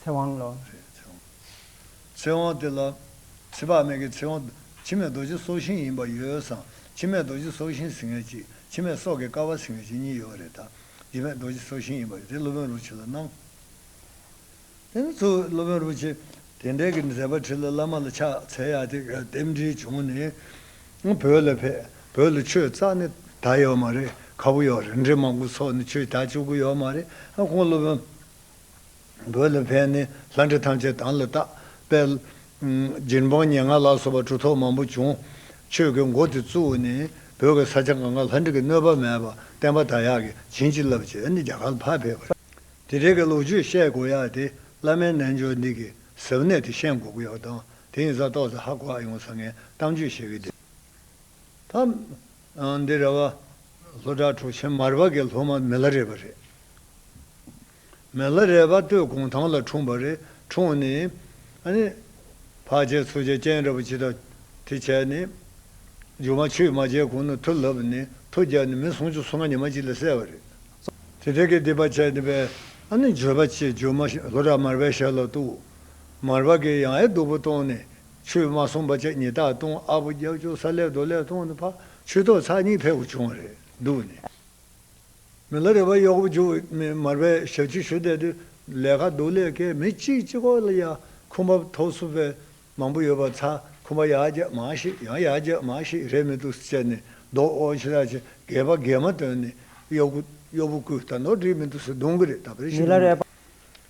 S2: ཚེ་དབང་
S1: ལོ། ཚེ་དབང་དེ་ལ། ཚེ་དཔག་མེད་ཀྱི་ཚེ་དབང། འཆི་མེད་རྡོ་རྗེ་སྲོག་ཤིང་ཡིན་པ་ཡོད་བསམ། འཆི་མེད་རྡོ་རྗེ་སྲོག་ཤིང་ཟིན་ངེས་གཅིག། འཆི་མེད་སྲོག་གི་ཀ་བ་ཟིན་ངེས་གཅིག་གཉིས་ཡོད་པ་རེད་དཱ། འཆི་མེད་རྡོ་རྗེ་སྲོག་ཤིང་ཡིན་པ་ཡོད་དེ་སློབ་དཔོན་རུ་ཆེ་ལ་གནང། དེ་ནས་ཚུར་སློབ་དཔོན་རུ་ཆེ། དེ་འབྲེལ་གྱི་མཛད་པ་ཁྲིད་ལ་བླ་མ་ལ་ཕྱག་འཚལ་ཡ་དེ་རྟེན་འབྲེལ་བྱུང་ནས། བོད་ལ་ཕེབས། བོད་ལ་ཆོས་གཙགས་ནི་ད་ཡོད་མ་རེད། ཁ་བོ་ཡོད་རེད་འདྲེ་མང་པོ་ཚོགས་ནས་ཆོས་ད་བཅུག་གི་ཡོད་མ་རེད། ཁོང་སློབ་དཔོན། རྒོད་ལ་ཕན་ནི་ལྷ་འདྲེ་ཐམས་ཅད་དང་ལ་བཏགས་པས། སྦྱིན་སྤང་སྙན་དངགས་ལ་སོགས་པ་གྲུ་ཐོག་མང་པོ་བྱུང། ཆོས་ཀྱི་མགོ་དེ་བཙུགས་ནས་བོད་ཀྱི་ས་ཆ་འགའ་འགའ་ལྷ་འདྲེ་གི་གནོད་པ་མེད་པར་བསྟན་པ་དར་ཡག་གིས་བྱིན་གྱིས་བརླབས་བྱས་ནས་རྒྱ་གར་ལ་ཕར་ཕེབས་པ་རེད། དེ་རིང་གི་ལོ་རྒྱུས་བཤད་དགོས་ཡག་དེ་བླ་མའི་རྣལ་འབྱོར་འདི་གི་ཟབ་གནད་དེ་ཤེས་དགོས་ཡག་དང་དེ་ཡིན་ས་རྟོགས་ཚེ་ཧ་གོ་ཨ་ཡོང་ས་ངས་གཏམ་རྒྱུད་བཤད་གི་འདུག། འདི་ར་བ་ལྷོ་བྲག་གྲོ་ཆེན་མར་བ་གའི་ལྷོ་མ་མེ་ལྷ་རས་པ་རེད། མེ་ལྷ་རས་པ་སྟོད་གུང་ཐང་ལ་འཁྲུངས་པ་རེད་འཁྲུངས་ནས། བྷ་ཇའི་ཚོ་ཆ་ཅན་ར་བ་ཇི་དང་དེ་བྱས་ནས། ཇོ་མ་ཆུས་མ་བྱས་གོང་ན་ཐུ་ལྷབ་ནས་ཐུ་རྒྱག་ནས་མི་སུམ་ཅུ་སོ་ལྔ་ཉི་མ་གཅིག་ལ་བསད་པ་རེད། དེ་དེ་གའི་སྡེ་པ་བྱས་ནས་པས། ཇོ་བ་ཆེ་ཇོ་མ་ལྷོ་བྲག་མར་བའི་ཞབས་ལ་གཏུགས། མར་བ་གའི་ཡང་ཨེ་སྡུག་པོ་གཏོང་ནས། ཆོས་མ་གསུངས་པ་ཅག་ཉིད་རྟགས་སྟོང་ཨ་བོ་རྒྱབ་ལྕོག་ས་ལེ་རྡོ་ལེ་སྟོང་ནི་ཕ་ཆོས་ཐོག་ཚགས་གཉིས་ཕལ་བོ་བྱུང་བ་རེད་འདུག་ནས། མི་ལ་རེ་བ་གཡོག་པོ་འཇུ་མི་མར་པའི་ཞབས་ཕྱི་ཞུ་བསྡད་དུས་ལས་ཀ་སྡུག་ལས་ཀའི་མི་གཅིག་གཅིག་ཁོག་ལ་ཡ་ཁུ་འབབ་ཐོག་སུ་བས་མང་པོ་ཡོད་པ་ཚ་ཁུ་འབ་ཡ་རྒྱ་མ་ཞིག་ཡང་ཡ་རྒྱ་མ་ཞིག་རེད་མི་འདུག་ཟེར་ནས་རྡོག་འོག་འཆི་བདག་ཅེས་རྒས་པ་རྒས་མ་བཏོན་ནས་གཡོག་པོ་གཡོག་པོ་ཀུན་ད་ནོར་བྲིས་མི་འདུག་ཟེར་གདོང་གི་རེད་ད་བེར་ཤིག་མི་ལ་རེ་བ།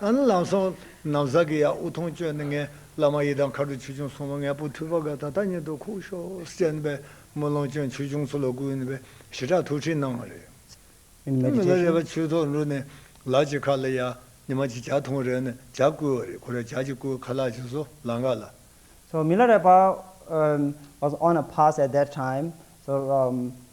S1: ལམ་སོང། ནམ་ཟག་གི་ཡ་དབུགས་མཐོང་སྤྱོད་ནི་ངའི་བླ་མ་ཡི་དམ་མཁའ་འགྲོ་ཆོས་སྐྱོང་སྲུང་མ་ངའི་བུ་ཐུབ་པ་འགའ་ད་ལྟ་ཉིད་དུ་ཁུག་ཤོག་ཅེས་དམ་པའི་དམུས་ལོང་སྤྱོད་ཆོས་སྐྱོང་ཚུལ་ལ་བསྐུལ་ནས་པའི་ཞི་དྲག་ཐུགས་ཁྲིད་གནང་བ་རེད།
S2: མི་ལ་རས་པ་ཆུའི་ཐོག་འདྲུད་ནས་
S1: ལག་གཅིག་ཁ་ལ་ཡ། ཉི་མ་གཅིག་བྱ་འཐུང་རེག་ནས་བྱ་བསྐུལ་བ་རེད་ཁོ་རེ་བྱ་གཅིག་བསྐུལ་ཁ་ལག་གཅིག་བཟོ་ལག་འགག་ལ། མི་ལ་རས་
S2: པ། was on a pass at that time so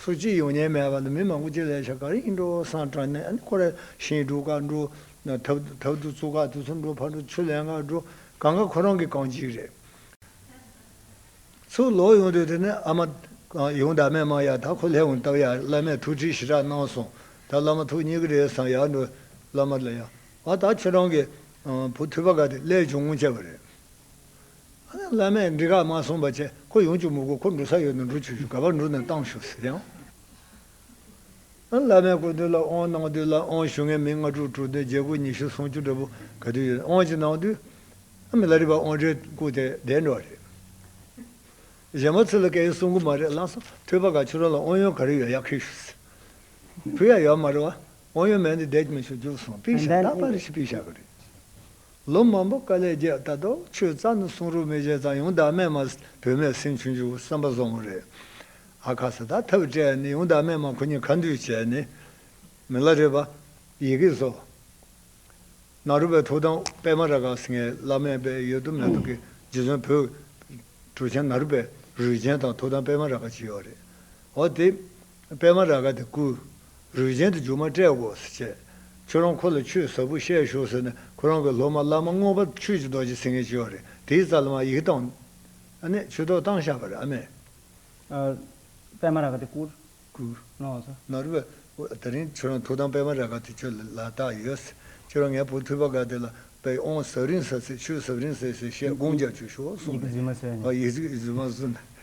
S1: ཚོ་སྤྱི་ཡོངས་ཉེས་མེད་པ་དང་མི་མང་པོ་སྤྱི་ལས་བྱ་གར་ཡིན་འགྲོ་སང་དྲ་ནས་ཨ་ནི་ཁོ་ར་ཤིང་འགྲོ་གར་འགྲོ། ཐབ་ཐབ་དུ་ཚུགས་ཁ་དུ་ཚུགས་འགྲོ་ཕར་འགྲོ་ཚུར་ལན་ཁར་འགྲོ་གང་ག་ཁོ་རང་གི་གང་ཅིག་རེད། ཚུར་ལོག་ཡོང་དུས་དེ་ནས་ཨ་མ། ཡོང་ད་མས་མ་ཡ་ད་ཁོ་ལྷས་འོང་སྟབས་ཡ་བླ་མས་ཐུགས་ཁྲིད་ཞི་དྲག་གནང་སོང་ད་བླ་མ་ཐུགས་མཉེས་ཀི་རེད་སང་ཡག་འགྲོ། བླ་མ་ལ་ཡ། ཨ་ད་ཁྱོད་རང་གི། བུ་ཐུ་པ་ག་དེ་ཀླད་ཅུང་ངུ་ཆེ་བ་རེད། བླ་མས་འདྲི་ག་མ་གསུངས་པ་བཅས་ཁོ་ཡོང་གཅུག་མོ་དགོས་ཁོ་འགྲོ་ས་ཡོད་ན་འགྲོ་ཆུག་ཆུག་ག་པར་འགྲོ་ན་བཏང་ཞུ་ཟེར་ཡང། བླ་མས་སྐུ་མདུན་ལ་དབང་གནང་དུས་ལ་དབང་ཞུ་མཁན་མི་ལྔ་དྲུག་དྲུག་འདུན་རྒྱལ་སྐུ་ཉི་ཤུ་སུམ་ཅུ་འདྲ་པོ་ག་དུས་ཡོད་དབང་ཅིག་གནང་དུས། ཨ་མི་ལ་རི་བར་དབང་གྲལ་བཀུག་དེ་བསྡད་འགྲོ་བ་རེད། གཞན་མ་ཚུར་ལ་སྐད་ཡིག་གསུང་གི་མ་རེད་ལགས་སམ་ཐོས་པ་ག་ཁྱོད་རང་ལ་དབང་ཡོན་ག་རེ་ཡོད་ཡར་ཁེགས་ཞུ་ཟེར། བུ་ཡ་ཡོད་མ་རེད་བ། དབང་ཡོན་མེད་འདི་བསྡད་ཀྱི་མི་ཆོག་རྒྱུགས་སོང་པིང་ཤ་རྟག་པར་རེ་ཞིག་པིང་ཤ་གི་རེད། ལོ་མང་པོ་དཀའ་ལས་བརྒྱད་ད་དོ་ཆོས་རྩ་ནི་གསུང་རུ་མེད་བྱས་ཙང་ཡོང་དག་སྨད་མ་བོད་མའི་སེམས་ཆུང་ཆུང་བསམ་པ་བཟང་བོ་རེད། ཨ་ཁ་ས་དག་ཐབས་བྲལ་ནི་ཡོང་དག་སྨད་མ་ཁོ་གཉིས་ཁ་འདུས་བྱས་ནི། མི་ལ་རེ་བ། ཡི་གེ་སོ། ནག་རུ་པའི་ཐུགས་དམ་པད་མ་ར་ག་སི་ངའི་བླ་མའི་པས་ཡོད་དུ་མེད་དུ་གི་རྗེ་བཙུན་བོད། གྲུ་ཆེན་ནག་རུ་པའི་རུས་ཆེན་དང་ཐུགས་དམ་པད་མ་ར་ག་ཅི་ཡོད་རེད། འོ་དེ། པད་མ་ར་ག་དེ་བསྐུར། རུས་རྒྱན་དུ་རྒྱུ་མ་སྤྲད་དགོས་ཟེར་བྱས། ཁྱོད་རང་ཁོ་ལ་ཆོས་ཟབ་པོ་བཤད་ཤོག་ཟེར་ནས་ཁོ་རང་གི་སློབ་མ་བླ་མ་དངོས་པ་ཆོས་ཀྱི་རྡོ་རྗེ་ཚེ་ངན་སྐྱེ་བ་རེད་དེའི་རྩ་ལ་མ་ཡིག་བཏང། ཨ་ནེ་ཆོས་ཐོག་བཏང་ཤག་པ་རེད་ཨ་མས། པད་མ་ར་ག་དེ་
S2: བསྐུར། བསྐུར།
S1: ནོར་
S2: བཟོ། ནོར་བཟོ། ད་
S1: རིང་ཁྱོད་རང་ཐུགས་དམ་པད་མ་ར་ག་དེ་ཁྱོད་ལ་ལ་བཏགས་ཡོད་ཟེར། ཁྱོད་རང་ངའི་བུ་ཐུབ་པ་ག་དེ་ལ་པད་ཨོང་ཟབ་རིང་ཟབ་ཚེ་ཆོས་ཟབ་རིང་ཟེར་ཞེས་དགོངས་རྒྱག་བྱོས་ཤོག་གསུངས་ནས། ཡིག་
S2: རྫུན་མ་བཟོས་ནས། ཡིག་རྫུན་མ་བཟོས་
S1: ནས།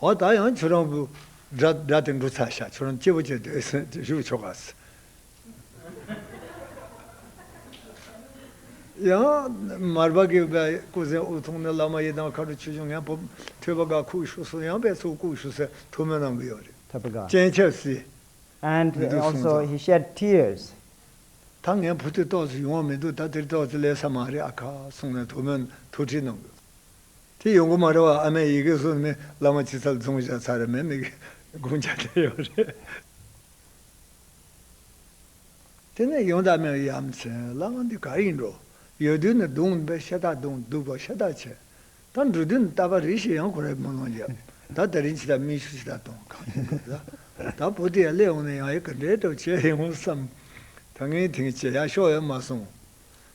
S1: འོ་ད་ཡང་ཁྱོད་རང་བུ་སྒྲ་སྒྲ་དེ་འབྲུ་ཚ་ཤ་ཁྱོད་རང་སྐྱེས་བུ་སྐྱེས་དུས་སུ་བཞུགས་ཆོག་ག་ཚོད། ཡང་མར་པ་གིས་པའི་སྐུ་ཟན་དབུ་ཐུང་ནི་བླ་མ་ཡི་དམ་ཁ་དྲོ་ཆོས་འབྱུང་ངན་པོ་ཐོད་པ་འགའ་ཁུག་བཞུགས་སུ་ཡང་པའི་ཚུལ་བཀུག་བཞུགས་སའི་ཐུགས་སྨོན་གནང་གི་ཡོད་རེད། ཐོད་པ་འགའ། སྤྱན་ཆབ་
S2: བསིལ།
S1: and མི་
S2: འདུག་གསུངས also ཙང། he
S1: shed tears། ད་ངའི་བུ་དེ་ཏོག་ཙེ་ཡོང་བ་མི་འདུག་ད་དེར་ཏོག་ཙེ་ལས་ས་མ་རེད་ཨ་ཁ་གསུངས་ནས་ཐུགས་སྨོན་ཐུགས་ཁྲིད་གནང་གི། དེ་ཡོང་གི་མ་རེད་བ་ཨ་མའི་ཡི་གེ་སོགས་ནི་བླ་མ་ཁྱི་ཚབ་ཚོང་བཞག་ཚར་མེད་ནི་དགོངས་འཆར་བསྟན་ཡོད་རེད། དེ་ནས་ཡོང་དག་མེད་ཡ་མཚན་བླ་མ་འདི་ག་ཡིན་འགྲོ་ཡོད་དུས་ནི་སྡུག་འདི་ཤ་སྟག་སྡུག་སྡུག་པ་ཤ་སྟག་བྱས་ད་འགྲོ་དུས་ནི་ལྟ་བ་རིས་ཤིག་ཡང་ཁོ་རའི་དམུས་ལོང་བརྒྱབ་ད་ད་རིང་ཕྱི་ཐག་མིག་ཆུ་ཕྱི་ཐག་གཏོང་གང་ཡིན་དགོས་ད་ད་བུ་དེ་ཡ་སླེབས་འོང་ནས་ཡང་ཡི་གེ་འབྲེལ་ཏོ་བྱས་ཡོང་བསམ་ད་ངའི་དེང་བྱས་ཡག་ཤོག་ཡོད་མ་སོང།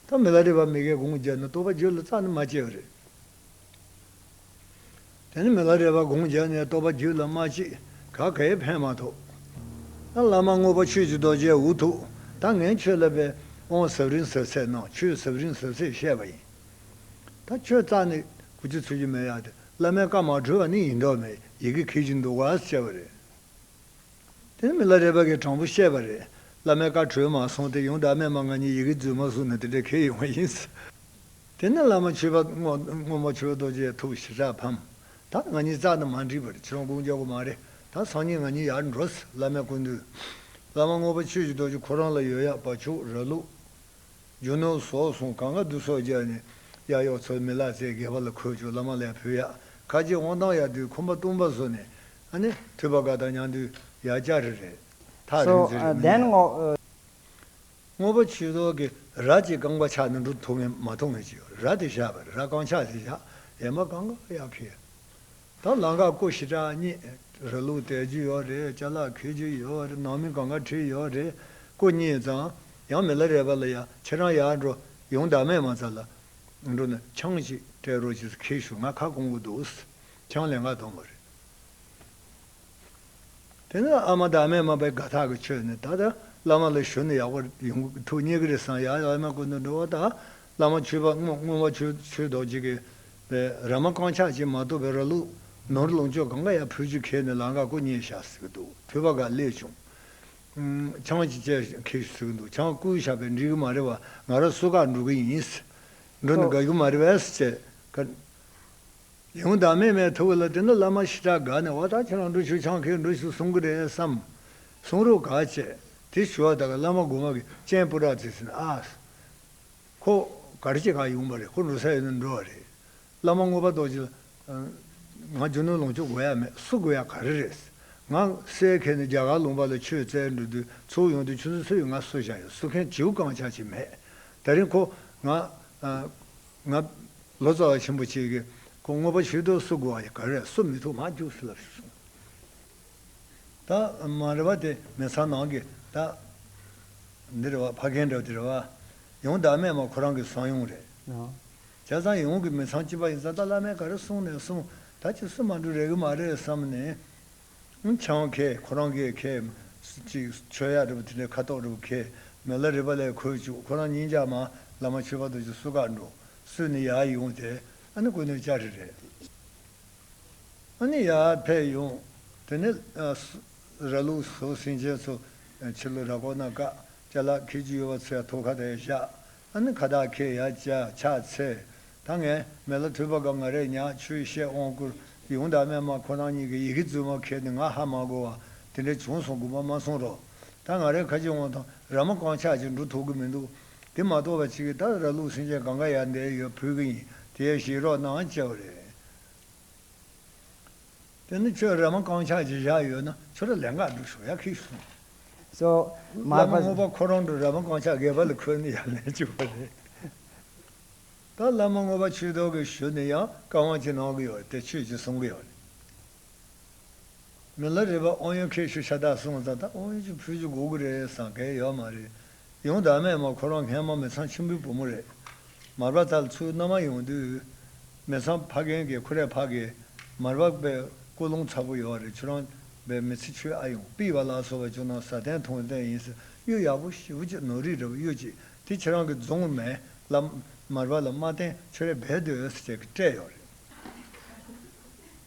S1: ཐ་མི་ལ་རེ་བ་མི་དགའི་དགོངས་བརྒྱ་ནི་རྟོགས་པ་བརྗོད་ལ་རྩ་ནི་མ་བཅད་པ་རེད། དེ་ནི་མི་ལ་རེ་བ་དགོངས་བརྒྱ་ནི་རྟོགས་པ་བརྗོད་ལ་མ་བཅད་ག་གཱའི་བྷན་མ་ཐོབ། ཨ་བླ་མ་དངོས་པོ་ཆོས་ཀྱི་རྡོ་རྗེ་འུ་ཐུག་ད་ངན་ཁྱོད་ལ་བས་དབང་ཟབ་རིང་ཟབ་ཚད་ནང་ཆོས་ཟབ་རིང་ཟབ་ཚད་བཤད་པ་ཡིན། ད་ཁྱོད་རྩ་ནི་གུ་ཅི་ཚུད་ཀྱི་མེད་ཡག་དེ་བླ་མའི་བཀའ་མ་གྲོལ་བ་ནི་ཡིན་མདོག་མེད་ཡི་གེ་གིས་ཀྱི་འདུག་གཱ་ཟེར་བ་རེད། དེ་མི་ལ་རས་པ་གའི་དྲང་པོ་བཤད་པ་རེད། བླ་མའི་བཀའ་གྲོས་མ་སོང་སྟེ་ཡོང་བདག་རྨས་མ་ང་གཉིས་ཡི་གེ་འཛུལ་མ་སོང་ན་དེ་འདྲ་ཁེལ་ཡོང་བ་ཡིན། དེ་ནས་བླ་མ་ཆོས་པ་སྔོན་མོ་ཆོས་རྡོ་རྗེ་ཐུགས་ཞི་དྲག་ཕམ། ད་ང་གཉིས་རྩ་དང་མ་འགྲིག་པར་ཁྱོད་དགུང་རྒྱག་གོ་མ་རེད་ད་སང་ཉིན་ང་གཉིས་ཡར་འགྲོ། བླ་མའི་སྐུ་མདུན། བླ་མ་སྔོན་པོ་ཆོས་ཀྱི་རྡོ་རྗེ་ཁོ་རང་ལ་ཡོད་ཡག་པ་ཕྱུགས་ར་ལུག། རྒྱུ་ནོར་ཟོག་ཟུང་གང་ག་བསྡུ་གསོག་རྒྱག་ནས་གཡག་གཡོག་ཚོའི་མི་ལག་རྩེད་དགེ་བ་ལ་འཁོད་བཅུག་བླ་མ་ལས་བུ་ཡག་ཁ་རྗེ་དབང་ཐང་ཡག་དུས་ཁོམ་པ་བཏུང་བ་བཟོ་ནས་ཨ་ནི་འཁྲུལ་པ་དགའ་དང་མྱང་འདུས་ཡ་ལྕགས་རི་རེད། ཐག་རིང་ཚེ་
S2: རིང་མི་ཉན། དངོས་
S1: པོ་ཆུ་ཟོག་གི་ར་གཅིག་རྐང་པ་ཆག་ན་འགྲོ་ཐུབ་ངེས་མ་ཐུབ་ངེས་ཅིག་ར་དེ་བཞག་པས་ར་རྐང་ཆག་དེ་བཞག་ཡས་མ་གང་ག་ཡག་གི། དང་བླ་འགག་སྐུ་ཞི་དྲག་གཉིས་ར་ལུག་བཏད་རྒྱུ་ཡོག་རེད་བཅའ་ལག་འཁེལ་རྒྱུ་ཡོག་རེད་ནང་མི་གང་ག་ཁྲིད་ཡོག་རེད་སྐུ་གཉིས་ཙང་ཡང་མི་ལ་རས་པ་ལ་ཡ་ཁྱེད་རང་ཡར་འགྲོ་ཡོང་བདག་མེད་མ་ཚ་ལ་འགྲོ་ན་ཆང་གཅིག་སྤྲད་རོགས་ཅེས་ཁེལ་ཞུ་ང་ཁ་སྐོང་གི་འདུག། ཆང་ལས་འགའ་འཐུང་བ་རེད། དེ་ནས་ཨ་མ་དང་ཨ་མའི་མ་པའི་དགའ་ཐག་གི་ཆོས་ནི་ད་ལྟ་བླ་མ་ལ་ཞུ་ན་ཡག་པོ་ཡོང་གི་འདུག་རྙེད་གི་རེད་བསམ་ཡག་ཡག་ཨ་མ་སྐུ་མདུན་འགྲོ་བ་དང་བླ་མ་ཆོས་པ་སྔོན་མ་ཆོས་ཆོས་རྡོ་རྗེ་གི་ར་མ་རྐང་ཆག་བྱེད་མ་བཏུབ་པའི་ར་ལུག་ནོར་ལོངས་སྤྱོད་གང་ག་ཡང་ཕུལ་རྒྱུ་ཁེལ་ནས་ལང་ཀ་སྐུ་མཉེལ་བཞག་ཟིག་གི་འདུག་ཕུད་པ་འགའ་སླེབས་བྱུང། ཆང་ཅི་བཅད་ཁེལ་ཟིག་གི་འདུག་ཆང་སྐུའི་ཞགས་པས་འགྲིག་གི་མ་རེད་བ་ང་ར་སུ་ཁག་འགྲོ་གི་ཡིན། འགྲོ་ནི་དགའ་གི་མ་རེད་བས་ཟེར། ཡང་བདག་མེད་མའི་ཐུགས་ལ་དེ་འདྲ་བླ་མ་ཞི་དྲག་དགའ་ནས་བ་ད་ཁྱེད་རང་འགྲུལ་ཆུ་ཆང་ཁའི་འགྲུལ་ཞུགས་གསུང་གི་རེད་བསམ། གསུང་རོགས་ག་བྱས། དེ་ཞུ་བ་དག་གི་བླ་མ་དགོ་མ་གི་སྤྱན་སྤུ་དག་བཙིར་ཟིན་ཨཱས། ཁོ། གར་སྐྱེས་གང་ཡོང་བ་རེད་ཁོ་འགྲོ་ས་ཡོད་ན་འགྲོ་བ་རེད། བླ་མ་དངོས་པ་རྡོ་རྗེ་ལ། ང་རྒྱུ་ནོར་ལོངས་སྤྱོད་དགོས་ཡ་མེད་སུ་དགོས་ཡ་ག་རེ་རེད། ང། སའི་ཁེ་ནི་རྒྱ་གར་ལུང་པ་ལ་ཆོས་བཙལ་འགྲོ་དུས་ཚོགས་ཡོང་དུས་ཆུ་འཛིན་སུ་ཡོད་ང་སུ་བཞག་ཡོད་སུ་མཁན་བྱིའུ་རྐང་བྱ་བྱེད་མེད། ད་རིང་ཁོ། ང། ང། ལོ་ཙཱ་བ་ཆེན་པོ་གཅིག་གིས་ཁོ་ངོ་པ་ཆོས་དུག་གསོ་དགོས་བ་ག་རེ་གསོ་མི་ཐུབ་མ་རྒྱུགས་སུ་ལབ་ཞེས་གསུངས། ད་མ་རེ་བ་དེ་མི་ཚང་ནང་གི་ད་འདི་རེ་བ་ཕ་རྒན་འདྲ་བ་དེ་རེ་བ། ཡང་བདག་མེད་མ་ཁོ་རང་གི་བཟང་ཡོང་རེད། བྱས་ཙང་ཡོང་གི་མི་ཚང་སྐྱིད་པ་ཡིན་ཙང་ད་བླ་མས་ག་རེ་གསུངས་ནས་གསུངས་ད་ཅི་སུ་མ་འགྲོ་རེག་གི་མ་རེད་བསམས་ནས། ཆང་ཁའི་ཁོ་རང་གི་ཁའི། ཅིག། ཆོས་ཡ་རི་བོ་དེ་འདྲའི་ཁ་དོག་རི་བོ་ཁའི། མེ་ལ་རི་བ་ལས་འཁོལ་བཅུག་ཁོ་རང་གཉིས་འཇག་མ། ལ་མ་ཆོས་པ་རྡོ་རྗེ་སུ་ཁ་འགྲོ། སུས་ནི་ཡ་ཡོང་དེ། ཨ་ནི་ཀུ་ནོའི་ལྕགས་རི་རེད། ཨ་ནི་ཡ་ཕེབས་ཡོང། དེ་ནི། ར་ལུག་བཟོ་སྲིང་ཅན་ཚོ། ཕྱི་ལོ་ར་སྐོར་ན་ཀ། ལྕགས་ལ་ཁད་ཅིག་ཡོད་པ་ཚོ་ཡ་ཐོག་ཁ་དེ་བཞག། ཨ་ནི་ཁ་བཏགས་ཁེ་ཡ་བཅའ་ཆགས་ཚེ། ད་ངས་མེ་ལ་ཐུལ་པ་སྐབས་ང་རས་ཉག་ཆུའི་གཤེད་དབང་བསྐུར། ཡུང་དང་སྨད་མ་ཁོ་རང་གཉིས་ཀྱི་ཡི་གེ་རྫུན་མ་ཁེལ་ཏེ་ང་ཧ་མ་གོ་བ་དེ་འདྲས་བྱུང་སོང་དགོངས་པ་མ་གསུངས་རོགས། ད་ང་རས་ཁ་ཆེ་འོང་དང་ར་མ་རྐང་ཆག་ཅིག་འགྲོ་ཐུབ་ཀྱི་མི་འདུག། དེ་མ་གཏོགས་པ་ཅིག་གིས་ད་ར་ལུག་སེང་ཆེན་གང་ག་ཡར་འདེད་ཡོད་ཕུལ་གྱི་ཡིན་དེ་ཡར་བཞེས་རོགས་གནང་བཅའ་བ་རེད། དེ་ནི་ཁྱོད་རེ་མ་རྐང་ཆག་ཅིག་བཞག་ཡོད་ན་ཁྱོད་ར་ལས་འགག་སྒྲུག་ཤོག་ཡ་ཁིག་སོང། སོ།
S2: མ་བླ་མ་བསྔོ་བ་ཁོ་རང་གྲོ་ར་
S1: མ་རྐང་ཆག་སྒལ་པ་ལ་འཁོད་ནས་ཡར་ལེན་བཅུག་པ་རེད། ད་བླ་མ་བསྔོ་བ་ཆུ་ཐོག་གི་ཞུ་ནས་ཡང་བཀའ་དབང་གཅིག་གནང་གི་ཡོད་དེ་ཁྱོད་ཀྱིས་གསུང་གི་ཡོད་རེད། མི་ལ་རེ་བ་ཨོ་ཡོན་ཁེ་ཤུ་ཤ་ད་གསུང་ཙང་ད་ཨོ་ཡོན་གྱི་ཕུལ་གྱི་འགོ་གི་རེད་བསམ་གི་ཡོད་མ་རེད། ཡོངས་དག་མེད་མ་ཁོ་རང་མཁན་མ་མི་ཚང་ཆེན་པོའི་བུ་མོ་རེད། མར་པ་ཐལ་ཚུལ་མནའ་མ་ཡོང་དུས། མི་ཚང་ཕ་རྒན་གྱི་ཁུ་རས་ཕག་གིས་མར་པ་པའི་སྐུ་རླུང་ཚ་པོ་ཡོད་རེད་ཁྱོད་རང་བའི་མི་ཚེ་ཆོས་ཨ་ཡོང་པི་བ་ལགས་སོ་བ་ཅུང་ན་བཟའ་བརྟན་ཐུང་བརྟན་ཡིན་ཟེར་གཡུ་ཡག་པོ་ཞི་བུ་ཅིག་ནོར་རིག་འདྲ་བོ་གཡུ་ཅིག་དེ་ཁྱེད་རང་གི་རྫོང་མལ་ལ་མར་པ་ལ་མ་བརྟེན་ཆོས་རས་བེད་སྡོད་ཨེ་ཟེར་བྱས་ཀི་སྤྲད་ཡོང་རེད།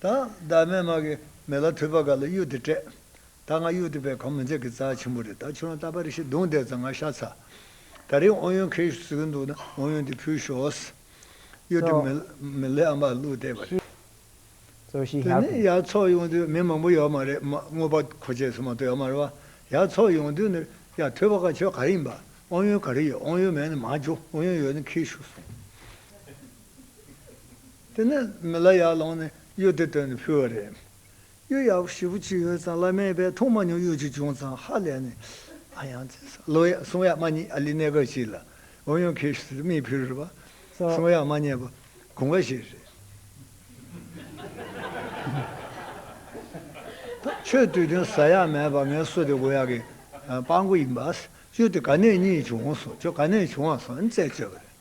S1: ད་ཡོངས་དག་མེད་མ་གི་མེ་ལ་ཐུལ་པ་ག་ལ་གཡུ་དེ་སྤྲད། ད་ང་གཡུག་ཐུབ་པའི་གམ་མི་འཛད་ཀི་རྩ་ཆེན་པོ་རེད་ད་ཁྱོད་རང་ལྟ་པར་ཤི་དུང་བསྡད་ཙང་ང་ཤ་ཚ། ད་རིང་ཨོ་ཡོན་ཁེ་ཞུ་ཟེར་གི་འདུག་ན་ཨོ་ཡོན་དེ་ཕུལ་ཞོགས། གཡུ་ཐེ་མི་ལེ་ཨ་མ་ལུག་བསྡད་པ་རེད། དེ་ནས་
S2: ཡར་ཚོགས་ཡོང་དུས་མི་
S1: མང་པོ་ཡོད་མ་རེད་དངོས་པོ་ཁོ་བཅས་སུ་མ་གཏོགས་ཡོད་མ་རེད་བ། ཡར་ཚོགས་ཡོང་དུས་ནི་ཡར་ཐོས་པ་ཁ་ཁྱོད་ག་རེ་ཡིན་པ། ཨོ་ཡོན་ག་རེ་ཡོད་ཨོ་ཡོན་མེད་ན་མ་བྱུང་ཨོ་ཡོན་ཡོད་ན་ཁེ་ཞུ་སོང། དེ་ནས་མི་ལ་ཡར་ལངས་ནས་གཡུ་ཐེ་བཏོན་ནས་ཕུལ་བ་རེད། གཡུ་ཡག་པོ་ཞེ་པོ་གཅིག་ཡོད་ཙང་བླ་མའི་པའི་ཐུགས་མ་ཉུང་གཡུ་གཅིག་བྱུང་ཙང་ཧ་ལས་ནས་ཨ་ཡང་བཙལ་ས་བློ་ཡག་གསུང་ཡག་མ་རྙེད་ཨ་ལི་གནས་སྐབས་གཅིག་ལ་ཨོ་ཡོན་ཁེ་ཤུ་ཟེར་མིའི་བུ་རུ་བ་གསུང་ཡག་མ་རྙེད་པ་གོང་ཁ་ཤས་རེད། ཆོས་བསྟོད་དོན་ཟ་ཡག་མེད་པ་ངའི་སོ་དེ་དགོ་ཡག་གི་དཔང་པོ་ཡིན་པ་ཨ་སི་ཅོ་དེ་ག་ནས་རྙེད་བྱུང་སོང་ཅོ་ག་ནས་བྱུང་བ་སོང་ཨིན་བཙལ་བཅོལ་བ་རེད།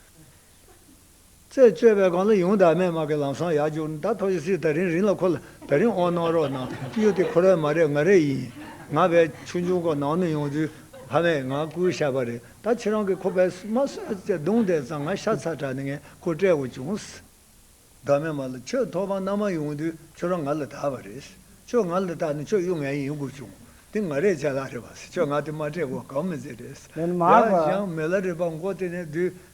S1: རྩད་གཅོད་པའི་སྒང་ལ་ཡུང་དར་མའི་དམག་གི་ལམ་སང་ཡར་རྒྱུགས་ད་ཐོག་ཡི་སི་ད་རིན་རིན་ལ་ཁོ་ལ་ད་རིན་ཨོ་གནང་རོགས་གནང་གཡུ་དེ་ཁོ་རའི་མ་རེད་ང་རའི་ཡིན་ང་བས་ཆུང་ཆུང་ཁོ་ནང་ནས་ཡོང་དུས་ཕ་མས་ང་སྐུའི་ཤ་བ་རེད་ད་ཁྱེད་རང་གིས་ཁོ་བས་མ་གསོད་ཅེས་རྡུང་བསྡད་ཙང་ང་ཤ་ཚ་དྲགས་ནས་ངས་ཁོ་བསྐྲད་འོང་བྱུང། དར་མའི་མ་ལ་ཁྱོད་ཐོག་ཁང་ནང་མ་ཡོང་དུས་ཁྱོད་རང་ང་ལ་ད་བ་རེད། ཁྱོད་ང་ལ་ད་ནི་ཁྱོད་གཡུ་ངའི་ཡིན་དགོས་བྱུང། དེ་ང་རའི་ལྕེ་ལ་རེད་བ། ཁྱོད་ང་དེ་མ་སྤྲད་གོ་གང་མི་མཛད་རེད། ཡང་ཞིང་
S2: མེ་ལ་རེད་བ་མགོ་དེ་ནས་བསྡུས།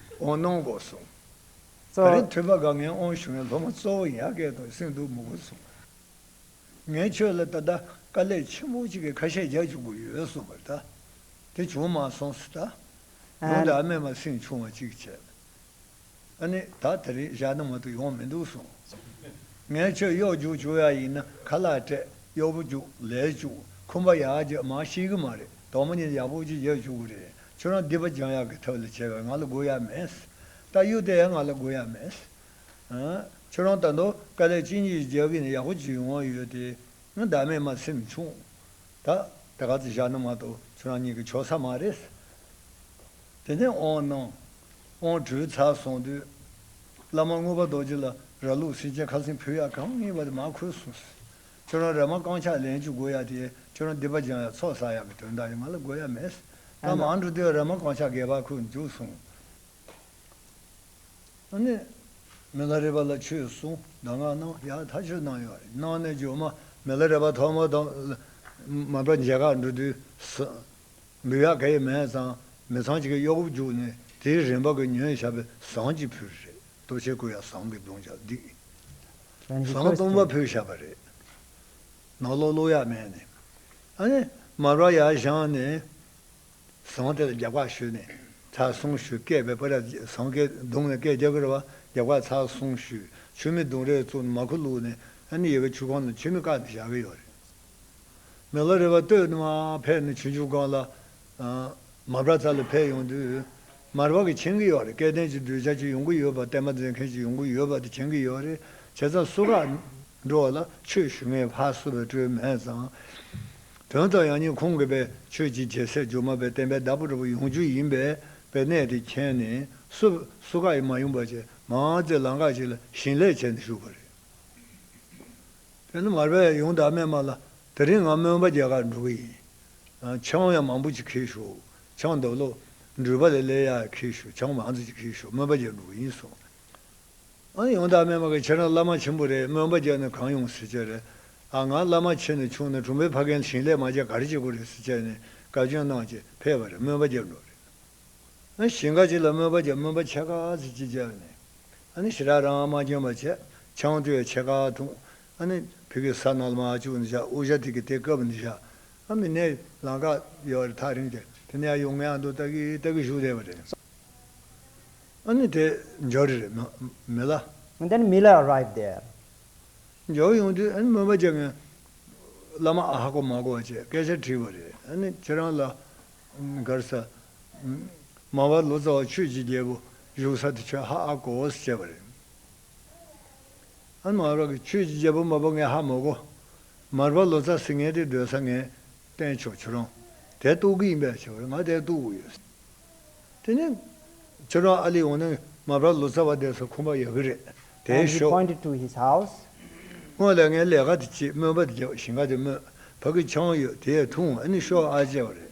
S2: འོང་གནང་གོ་གསུངས། ག་རེ་ཐོས་པ་དགའ་ངས་འོང་བྱུང་བའི་སློབ་མ་གཙོ་བོ་ཡ་གས་དང་སེང་གདུག་མོ་གོ་གསུངས། ངས་ཁྱོད་ལ་ད་ལྟ་དཀའ་ལས་ཆེན་པོ་གཅིག་གི་ཁ་ཤས་རྒྱག་བཅུག་གི་ཡོད་གསུངས་པར་ད་དེ་བྱུང་མ་སོང་སུ་ད་ཡོང་དེ་ཨ་མས་མ་སེང་ཆུང་བ་གཅིག་བྱས། ཨ་ནི་ད་དེ་རིང་བཞག་ན་མ་ཏུ་ཡོང་མི་འདུག་གསུངས། ངས་ཁྱོད་གཡོག་རྒྱུག་བཅུག་ཡ་ཡིན་ན་ཁ་ལག་སྤྲད་གཡོག་པོ་བཅུག་ལས་བཅུག་ཁུམ་པ་ཡག་རྒྱག་མ་ཤེས་གི་མ་རེད་དོག་མོ་གཉིས་ཡག་པོ་གཅིག་རྒྱག་བཅུག་གི་རེད། ཁྱོད་རང་སྡིག་པ་སྦྱང་ཡག་གི་ཐབས་ལས་བྱས་པས་ང་ལ་དགོས་ཡག་མེད། རྟ་གཡུག་དེ་ཡང་ང་ལ་དགོས་ཡག་
S1: མེད། ཁྱོད་རང་ད་དུང་དཀའ་ལས་ཅི་མྱི་རྒྱག་གི་ནས་ཡག་པོ་བྱེད་ཡོང་བ་ཡོད་དེ། ཟླ་མེད་མ་སེམས་ཆུང། ད་དེ་ག་ཚོད་བཞག་ན་མ་གཏོགས་ཁྱོད་རང་གཉིས་ཀྱི་ཆོག་ས་མ་རེད། དེ་ནས་དབང་གནང། དབང་གྲོལ་ཚར་སོང་དུས། བླ་མ་དངོས་པོ་རྡོ་རྗེ་ལ་ར་ལུག་སེང་ཆེན་ཁ་སེང་ཕུད་ཡག་གང་ཡིན་པ་དེ་མ་ཁོས་གསུངས། ཁྱོད་རང་རེ་མ་རྐང་ཕྱག་ལེན་བཅུ་དགོས་ཡ་དེ་ཁྱོད་རང་སྡིག་པ་སྦྱང་ཡ་ཚོགས་བསགས་ཡ་གི་དོན་དག་ཡིན་ང་ལ་དགོས་ཡ་མེད། ལམ་འང་འགྲོ་དུས་རེ་མ་རྐང་ཕྱག་རྒྱས་པ་ཁུག་འཇུག་གསུངས། མི་ལ་རས་པ་ལ་ཆོས་གསུངས་གདམས་ངག་གནང་ཡ་ད་ཆོས་གནང་ཡོད་རེད་གནང་ནས་ཇོ་མ་མི་ལ་རས་པ་ཐོག་མར་དང། མ་པ་མཇལ་ཁར་འགྲོ་དུས། འབུལ་ཡག་གེ་མེད་ཙང་མི་ཚང་གཅིག་གི་གཡོག་པོ་བརྒྱུགས་ནས་དེའི་རིན་པ་གི་ཉོས་ཞབས་པའི་ཟངས་གཅིག་ཕུལ་རེད། ལྟོ་འཕྱེ་བསྐུ་ཡང་ཟངས་ཀྱི་མདུང་ཅག་བསྡིགས། ཟངས་བཏུང་བ་ཕུད་བཞག་པ་རེད། ནག་ལོག་ལོག་ཡར་མནན་ནས། ཨ་ནི། མར་བ་ཡར་བཞངས་ནས། ཟངས་དེ་ལ་རྒྱབ་ཁ་ཞུས་ནས། ཚགས་སོང་ཞུས་སྐད་པས་པོ་ར་ཟངས་ཀྱི་མདུང་ལ་སྐད་རྒྱག་གི་རེད་བ། རྒྱབ་ཁ་ཚགས་སོང་ཞུས། ཆུ་མིག་མདུང་རེ་བཙུགས་ནས་མར་ཁུ་བླུགས་ནས། ཨ་ནི་ཡི་གེ་ཆུ་ཁང་ནང་ཆུ་མིག་བཀག་ནས་བཞག་གི་ཡོད་རེད། མེ་ལོ་རེ་བ་སྟོད་ནས་མ་ཕེབས་ནས་ཆུ་མཇུག་སྒང་ལ། མ་བྲག་ཚ་ལ་ཕེབས་ཡོང་དུས། མར་བག་གི་འཆིང་གི་ཡོད་རེད་སྐལ་ལྡན་གྱི་གདུལ་བྱ་གཅིག་ཡོང་གི་ཡོད་པ་བསྟན་པ་མཛད་མཁན་གཅིག་ཡོང་གི་ཡོད་པ་དེ་འཆིང་གི་ཡོད་རེད་བྱས་ཙང་སུ་ཁ་འགྲོ་བ་ལ་ཆོས་ཞུ་མཁན་ཕར་བསུ་བའི་སྤྲོས་མེད་ཙང། དོན་དག་ཡང་སྙིང་ཁུང་གི་པའི་ཆོས་ཀྱི་རྒྱལ་སྲས་སྒྱུ་མ་པའི་བསྟན་པའི་བདག་པོ་འགྲོ་བ་ཡོངས་རྒྱུ་ཡིན་པས་པའི་གནས་དེ་མཁྱེན་ནས་སུ་སུ་ཁ་ཡི་མ་ཡུམ་པ་ཅན་མང་ཙེ་ལང་ཁ་ཅིག་ལ་བྱིན་ལེགས་བྱས་ནས་བཞུགས་
S2: པ་རེད། དེ་ནི་མར་བས་ཡོངས་དག་མན་མ་ལ་དེ་རིང་ང་མོན་པ་རྒྱལ་ཁར་འགྲོ་གི་ཡིན། ཆང་ཡང་མང་པོ་ཅིག་ཁེལ་ཞོག། ཆང་རྡོ་ལོ། འགྲུལ་པ་ལས་སླེ་ཡག་ཁེལ་ཞོག་ཆང་མང་ཙིག་ཅིག་ཁེལ་ཞོག་མོན་པ་རྒྱལ་འགྲོ་གི་ཡིན་གསུངས། ཨ་ཡོང་དག་སྨྲས་མ་གི་ཁྱེད་རང་བླ་མ་ཆེན་པོ་རེད་མོན་པ་རྒྱལ་ནི་གང་ཡོང་ཟེར་ཅེས་རེད། ཨ་ང་བླ་མ་ཆེ་ནས་ཆུང་ནས་གྲུམ་པའི་ཕ་རྒན་ཞིང་ལས་མ་རྒྱ་གར་སྐྱེས་པོ་རེད་ཟེར་ཅེས་ནས་བཀའ་བཀྱོན་གནང་ཅེས་ཕེབས་པ་རེད་མོན་པ་རྒྱལ་འགྲོ་གི་རེད། ཞིང་ཁ་ཅིག་ལ་མོན་པ་རྒྱལ་མོན་པ་ཕྱེད་ཀ་ཙིག་ཅིག་བཅག་ནས། ཨ་ནི་ཞི་རགས་རང་ཨ་མ་སྐྱོན་པ་བྱས། ཆང་སྤྲོས་ཕྱེད་ཀ་འཐུང། ཨ་ནི། བོད་ཀྱི་ས་ནག་ལ་མ་ཨ་ཅུག་ནི་བཞག་ཨོ་ཞཱ་ཐིག་གི་དེ་སྐབས་ནི་བཞག་ཨ་མི་ནས་ལང་ཀ་ཡོད་རེད་ཐག་རིང་དེར་དེ་ནས་ཨ་ཡོང་ངས་ཨ་མདོ་ལྟ་གི་ལྟ་གི་བཞུགས་བསྡད་པ་རེད། ཨ་ནི་དེ་འཇོག་རེད་རེད་མི་ལ། ཨ་ནི་མི་ལ་རེད་དེར། འཇོག་ཡོང་དུས་ཨ་ནི་མོས་པ་བྱས་ངས་བླ་མ་ཨ་ཧ་གོ་མ་གོ་བ་བཅས་སྐད་ཆ་དྲིས་པ་རེད་ཨ་ནི་ཁྱེད་རང་ལ་མགར་ས།
S1: མ་བ་ལོ་ཙཱ་བ་ཆོས་ཀྱི་རྒྱལ་པོ་བཞུགས་ས་དེ་ཁྱོད་ཧ་ཨ་གོ་ཨོ་སི་བྱས་པ་རེད། ཨ་མ་རོག་གི་ཁྱོད་ཀྱི་རྒྱལ་པོ་མ་པོ་ངའི་ཧ་མོ་གོ། མར་པ་ལོ་ཙཱ་སི་ངའི་དེ་སྡོད་ས་ངའི་པན་ཆོག་ཁྱོད་རང་དེ་གཏོགས་གི་ཡིན་པས་ཁྱོད་རང་ང་
S2: དེ་གཏོགས་གི་ཡོད། དེ་ནས་ཁྱོད་རང་ཨ་ལི་འོང་ན་མར་པ་ལོ་ཙཱ་བ་བསྡད་སོ་ཁོམ་པ་ཡག་གི་རེད་དེ Angie ཤོག། pointed to his house. སྔོན་ལས་ངའི་ལས་ཀ་དེ་བྱེད་སྨོན་པ་དེ་བྱེད་བཞིན་ཁ་དེ་སྨོད་བག་གི་འཆང་ཡོད་དེ་ཡས་ཐུང་ཨ་ནི་ཤོག་ཨ་ཅེས་པ་རེད།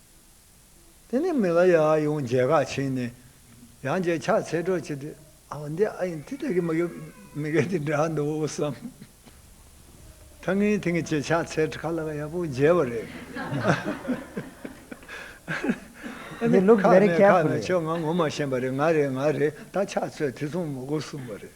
S1: དེ་ནས་མི་ལ་ཡ་ཡོང་རྒྱལ་ཁ་ཕྱིན་ནས་ཡང་རྒྱལ་ཕྱག་འཚལ་སྒྲོག་བྱས་ཏེ། ཨ་འོ་འདི་ཨ་ཡིན་དེ་ལྟ་གི་མི་གི་མི་གེ་འདི་འདྲ་འདུག་བསམ། ད་ངས་དེང་གི་རྒྱལ་ཕྱག་འཚལ་ཁ་ལག་ཡག་པོ་མཇལ་བ་རེད།
S2: འདི་ལུག་རྫི་རེད་ཁྱད་པོ་རེད། ཁ་ནས་ཁྱོད་ང་ངོ་མ་ཤེས་པ་
S1: རེད་ང་རེད་ང་རེད་ད་ཕྱག་འཚལ་དེ་མཚུངས་མོ་གོ་གསུངས་པ་རེད།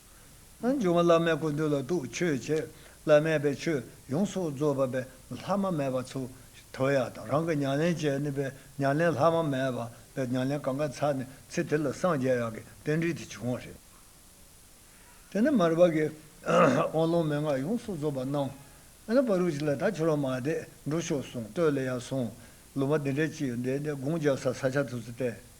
S1: འབྱུང་བ་བླ་མའི་སྐུ་འདུས་ལ་གདུགས་མཆོད་བྱས། བླ་མས་པའི་ཆོས་ཡོངས་སུ་རྫོགས་པ་པའི་ལྷག་མ་མེད་པ་ཚུར་དོར་ཡ་དང་རང་གི་མྱ་ལན་བྱས་ནས་པའི་མྱ་ལན་ལྷག་མ་མེད་པ་པའི་མྱ་ལན་གང་གཱའི་ཚལ་ནས་ཚེ་དེ་ལ་སངས་རྒྱས་ཡག་གི་རྟེན་འབྲེལ་དེ་བྱུང་བ་རེད། དེ་ནས་མར་བར་གྱི་དབང་ལུང་མན་ངག་ཡོངས་སུ་རྫོགས་པ་གནང། ཨ་ན་པ་རུ་ཅི་ལ་ད་ཁྱོད་རང་མ་བསྡད་འགྲོ་ཤོག་གསུངས་སྟོད་ལ་ཡར་སོང། ལུང་པ་འདི་འདྲས་ཅི་ཡོད་འདས་འདས་དགུང་འཇགས་སར་ས་ཆ་དུ་ཚུད་བསྟན།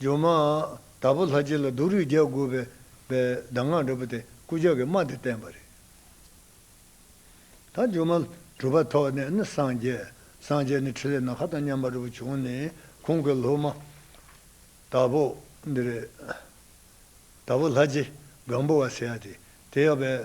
S1: ཇོ་མོ། དྭགས་པོ་ལྷ་རྗེ་ལ་སྡུག་རུས་རྒྱག་དགོས་པའི་གདམས་ངག་འདྲ་པོ་དེ་སྐུ་ཅག་གིས་སྨྲ་དེ་བསྟན་པ་རེད། ད་ཇོ་མོ། གྲུབ་པ་ཐོག་ནས་ནི་སངས་རྒྱས། སངས་རྒྱས་ནི་ཕྲིན་ལས་ནག་ཁ་དང་མཉམ་པ་འགྲོ་བ་བྱུང་ནས་ཁོང་གི་སློབ་མ། དྭགས་པོ། འདི་རེད། དྭགས་པོ་ལྷ་རྗེ། སྒང་པོ་བ་ཟེར་ཡ་དེ། དེ་ཡག་པས།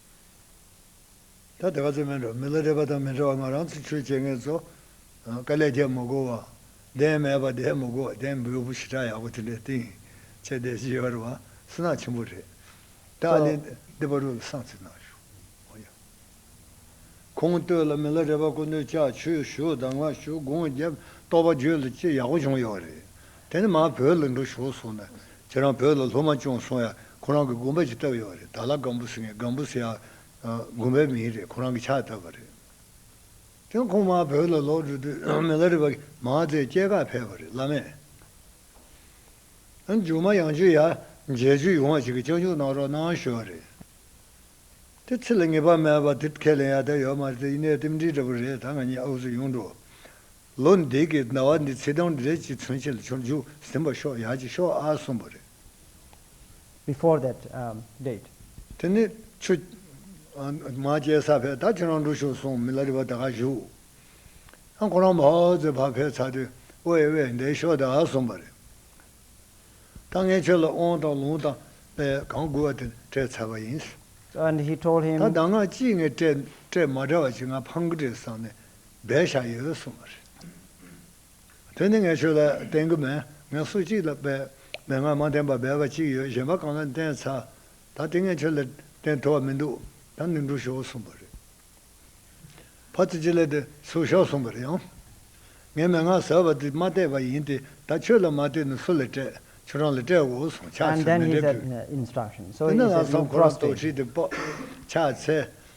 S1: ད་ལྟ་ག་ཚོད་མིན་འགྲོ་མི་ལ་རེ་བ་དང་མི་འདྲ་བ་ང་རང་ཚོ་ཆོས་བྱེད་མཁན་ཚོ། དཀའ་ལས་རྒྱབ་མི་དགོས་བ། བདེན་མེད་པ་བསྡད་མི་དགོས་བ་བདེན་འབོད་བུ་ཞེ་དྲག་ཡག་པོ་དེ་འདྲའི་སྟེང། ཆེ་བསྡད་ཅི་ཡོད་རེད་བ། སུན་སྣང་ཆེན་པོ་རེད། ད་ཨ་ལེ་འདི་པར་རོ་ལ་བསང་རྩིས་གནང་ཞུ། ཨོ་ཡ། ཁོང་ལྟོས་ལ་མི་ལ་རེ་བ་སྐུ་མདུན་ལྕགས་ཆོས་ཞུ་གདང་བ་ཞུ་དགུང་རྒྱབ་རྟོགས་པ་བརྗོད་ལ་ཅི་ཡག་པོ་བྱུང་ཡོད་རེད། དེ་ནི་མར་བོད་ལ་འགྲོ་ཞོར་སོང་ན་ཁྱེད་རང་བོད་ལ་སློབ་མ་སྐྱོང་སོང་ཡ་ཁོ་རང་གི་དགོན་པ་ཅིག་བཏབ་ཡོད་རེད་ད་ལ་སྒམ་པོ་ཟེར་ངེས་སྒམ་པོ་ཟེར་ཡ་དགོན་པའི་མིང་རེད་ཁོ་རང་གི་ཕྱག་བཏབ་པ་རེད། དེ་ཁོང་མར་བོད་ལ་ལོག་འགྲོ་དུས་མི་ལ་རི་བ་མང་ཙས་སྐྱེས་ཁ་ཕེབས་པ་རེད་བླ་མས་མཇུག་མ་ཡང་ཆུ་ཡ་མཇལ་ཆུ་ཡོང་བ་ཞིག་གི་སྤྱོད་འཇུག་གནང་རོགས་གནང་ཞུ་བ་རེད། དེ་ཚེ་ལ་ངེས་པ་མེད་པ་དེ་ཁས་ལེན་ཡ་དེ་ཡོད་མ་རེད་དེ་ཡིན་ནའི་རྟེན་འབྲེལ་འདྲ་པོ་རེད་ད་ང་གཉིས་ཨུ་ཚུགས་ཡོང་འགྲོ་ལོ་འདི་གི་ཟླ་བ་འདི་ཚེས་གྲངས་འདི་རེད་ཅེས་མཚོན་བྱེད་ལ་འཆོར་འཇུག་ཟིན་པར་ཤོག་ཡག་ཅིག་ཤོག་ཨ་གསུངས་པ་རེད།
S2: before that date། དེ་ནི་
S1: ཆུ། མ་སྐྱེས་ས་བས་ད་ཁྱོད་རང་འགྲོ་ཤོག་གསུངས་མི་ལ་རི་བ་ད་ག་བཞུགས། ཨ་ཁོ་རང་བྷའོ་ཙེ་བྷ་བྷས་ཚ་དེ་ཨོ་ཨེ་བས་འདས་ཤོག་ད་གསུངས་པ་རེད། ད་ངས་ཁྱོད་ལ་ཨོང་དང་ལུང་དང་པས་གང་བསྐུར་བ་དེ་སྤྲད་ཚར་བ་ཡིན། and he told
S2: him། ད་གདམས་ངག་གཅིག་ངས་
S1: སྤྲད་སྤྲད་མ་འདྲ་བ་ཅིག་ང་ཕམ་གི་རེད་བསམས་ནས་བསྡད་བཞག་ཡོད་གསུངས་པ་རེད། དེ་ནི་ངས་ཁྱོད་ལ་བསྟན་གི་མེད་ངས་སུ་གཅིག་ལ་བལ་མེད་ངས་མ་བསྟན་པ་བལ་བ་གཅིག་ཡོད་གཞན་པ་གང་ལ་བསྟན་ཚར། ད་དེ་ངས་ཁྱོད་ལ་བསྟན་ཐུ་བ་མི་འདུག་ད་ནི་འགྲུ་ཞོག་གསུངས་པ་རེད། ཕ་ཚོ་ཅི་ལས་དེ་ཚུར་ཤོག་གསུངས་པར་ཡང། ངས་མན་ངག་ཟེར་བ་དེ་མ་བལྟས་པ་ཡིན་ཏེ་ད་ཁྱོད་ལ་མ་བལྟས་ན་སུ་ལ་བལྟས་ཁྱོད་རང་ལ་བལྟས་དགོས་གསུངས་ཕྱག་འཚལ་
S2: མེ་འདྲེན་ཕུལ། དེ་ནས་ལྷག་བསམ་ཁོ་རང་རྟོགས་ཁྲིད་དེ་ཕྱག་འཚལ།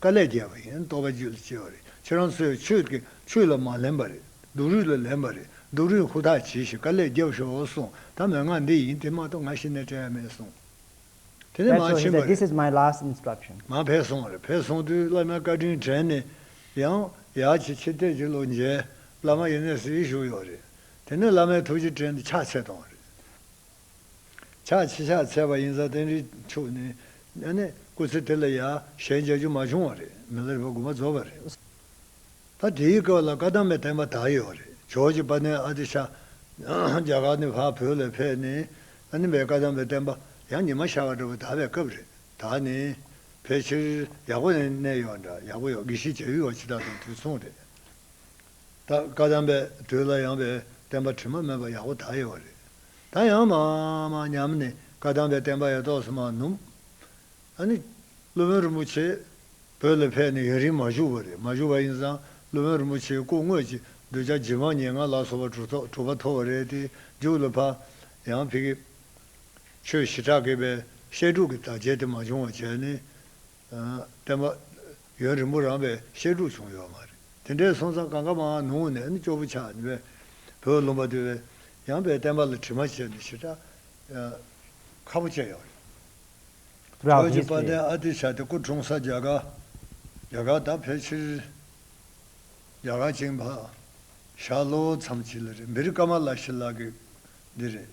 S1: དཀའ་ལས་རྒྱལ་བ་ཡིན་རྟོགས་པའི་རྒྱུད་ལ་སྐྱེ་བ་རེད་ཁྱོད་རང་ཚོས་ཆོས་ཀྱི་ཆོས་ལ་མ་ལེན་པ་རེད་སྡུག་རུས་ལ་ལེན་པ་རེད་སྡུག་རུས་ཧུར་ཐག་བྱས་ཤིག་དཀའ་ལས་རྒྱབ་ཤོག་གསུངས་ད་མོས་ང་འདི་ཡིན་དེ་མ་གཏོགས་ང་ཤི་ནས་བྲེལ་བ་མེད་གསུངས། དེ་ནས་
S2: མར་ཕྱིན་པ་རེད། ང་ཕེབས་སོང་རེད་
S1: ཕེབས་སོང་དུས་བླ་མའི་བཀའ་དྲིན་དྲན་ནས་ཡང་ཡག་ཅིག་ཕྱིར་བལྟས་ཀྱི་ལོ་མཇལ་བླ་མ་ཡེ་ནས་ཟིལ་བཞུགས་ཡོད་རེད་དེ་ནས་བླ་མའི་ཐུགས་རྗེ་དྲན་ཏེ་ཕྱག་འཚལ་བཏང་རེད། ཕྱག་ཕྱི་ཕྱག་འཚལ་བ་ཡིན་ཙང་བསྟན་འཛིན་ཕྱོགས་ནས་གནས་ནས་སྐུ་ཚེ་དེ་ལ་ཡ་ཞལ་མཇལ་རྒྱུ་མ་བྱུང་བ་རེད་མི་ལར་བ་དགུ་མ་རྫོགས་པ་རེད། ད་དེའི་སྐབས་ལ་བཀའ་གདམས་པའི་བསྟན་པ་དག་ཡོད་བ་རེད་ཇོ་ཇེ་པ་ནས་ཨ་ཏི་ཤ། རྒྱ་གར་ནས་བར་བོད་ལ་ཕེབས་ནས་ཨ་ནི་བའི་བཀའ་གདམས་པའི་བསྟན་པ་ཡང་ཉི་མ་ཤར་བ་འདྲ་བོ་དར་བའི་སྐབས་རེད་ད་ནི་ཕལ་ཆེར་ཡག་པོ་ནས་གནས་ཡོད་བ་འདྲ་ཡག་པོ་ཡོད་གི་ཤི་བྱ་ཡུལ་བ་འཆི་བདག་དང་དུས་མཚུངས་རེད། ད་བཀའ་གདམས་པའི་དུས་ལ་ཡངས་པའི་བསྟན་པ་དྲི་མ་མེད་པ་ཡག་པོ་དག་ཡོད་བ་རེད། ད་ཡང་མ་མ་ཉམས་ནས་བཀའ་གདམས་པའི་བསྟན་པ་ཡ་ཏོག་སུ་མ་ནུབ། ཨ་ནི། སློབ་དཔོན་རིན་པོ་ཆེ། བོད་ལ་ཕེབས་ནས་ཡ་རིང་མ་བཞུགས་བ་རེད་མ་བཞུགས་བ་ཡིན་ཙང་སློབ་དཔོན་རིན་པོ་ཆེའི་སྐུ་དངོས་ཀྱི་གདུལ་བྱ་ཇི་མང་ཉེ་ང་ལག་སོ་བ་དྲུག་ཐོག་དྲུག་པ་ཐོབ་བ་རེད་དེ་རྒྱུགས་ལ་ཕ། ཡང་ཕི་གི། ཆོས་ཞི་དྲག་གི་པའི་བཤད་སྒྲུག་གི་དག་བྱེད་དེ་མ་བྱུང་བ་བྱས་ནས། བསྟན་པ། ཡུན་རིང་པོ་རངས་པའི་བཤད་སྒྲུབ་བྱུང་ཡོད་མ་རེད། དེ་འདྲའི་སོང་ཙང་གང་ག་མ་ནུང་ནས་ནི་ཅོག་པུ་ཆགས་ནི་བས། བོད་ལུང་པ་འདི་བས། ཡངས་པའི་བསྟན་པ་ལ་དྲི་མ་ཆེ་ནི་ཞེ་དྲག། ཁ་པོ་ཅན་ཡང་
S2: རེད། བོད་ཀྱི་དཔའ་བརྟན་ཨ་
S1: ཏི་ཤ་ཏི་སྐུ་
S2: འཁྲུངས་
S1: ས་རྒྱ་གར། རྒྱ་གར་དག་ཕལ་ཆེར། རྒྱ་གར་བཅིངས་འཕགས། ཞག་ལོ་མཚམས་གཅིག་ལ་རེད་འབིར་ཀ་མ་ལ་ཤི་ལ་གི་འདི་རེད།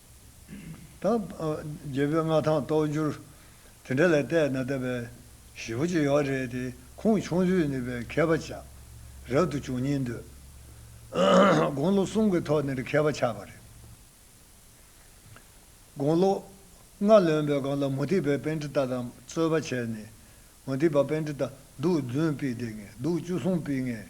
S1: དང། རྒྱལ་པོའི་མངའ་ཐང་རྟོགས་འགྱུར། དེ་འདྲ་ལས་བལྟས་ན་ལྟ་བའི། ཞེ་པོ་ཅི་ཡོད་རེད་དེ། ཁུངས་ཆུང་ཚུལ་ནུས་པའི་མཁས་པ་ཆགས། རབ་ཏུ་བྱུང་གཉིས་འདོད། དགུང་ལོ་གསུམ་གྱི་ཐོག་ནས་མཁས་པ་ཆགས་པ་རེད། དགུང་ལོ། ལྔ་ལོན་པའི་སྒང་ལ་མུ་ཏིག་པའི་དཔེ་འདི་ལྟ་དང་རྩོད་པ་བྱས་ནས། མུ་ཏིག་པ་དཔེ་འདི་ལྟ། གདུགས་བདུན་དཔེ་བདེ་ངེས་གདུགས་བཅུ་གསུམ་དཔེ་ངེས།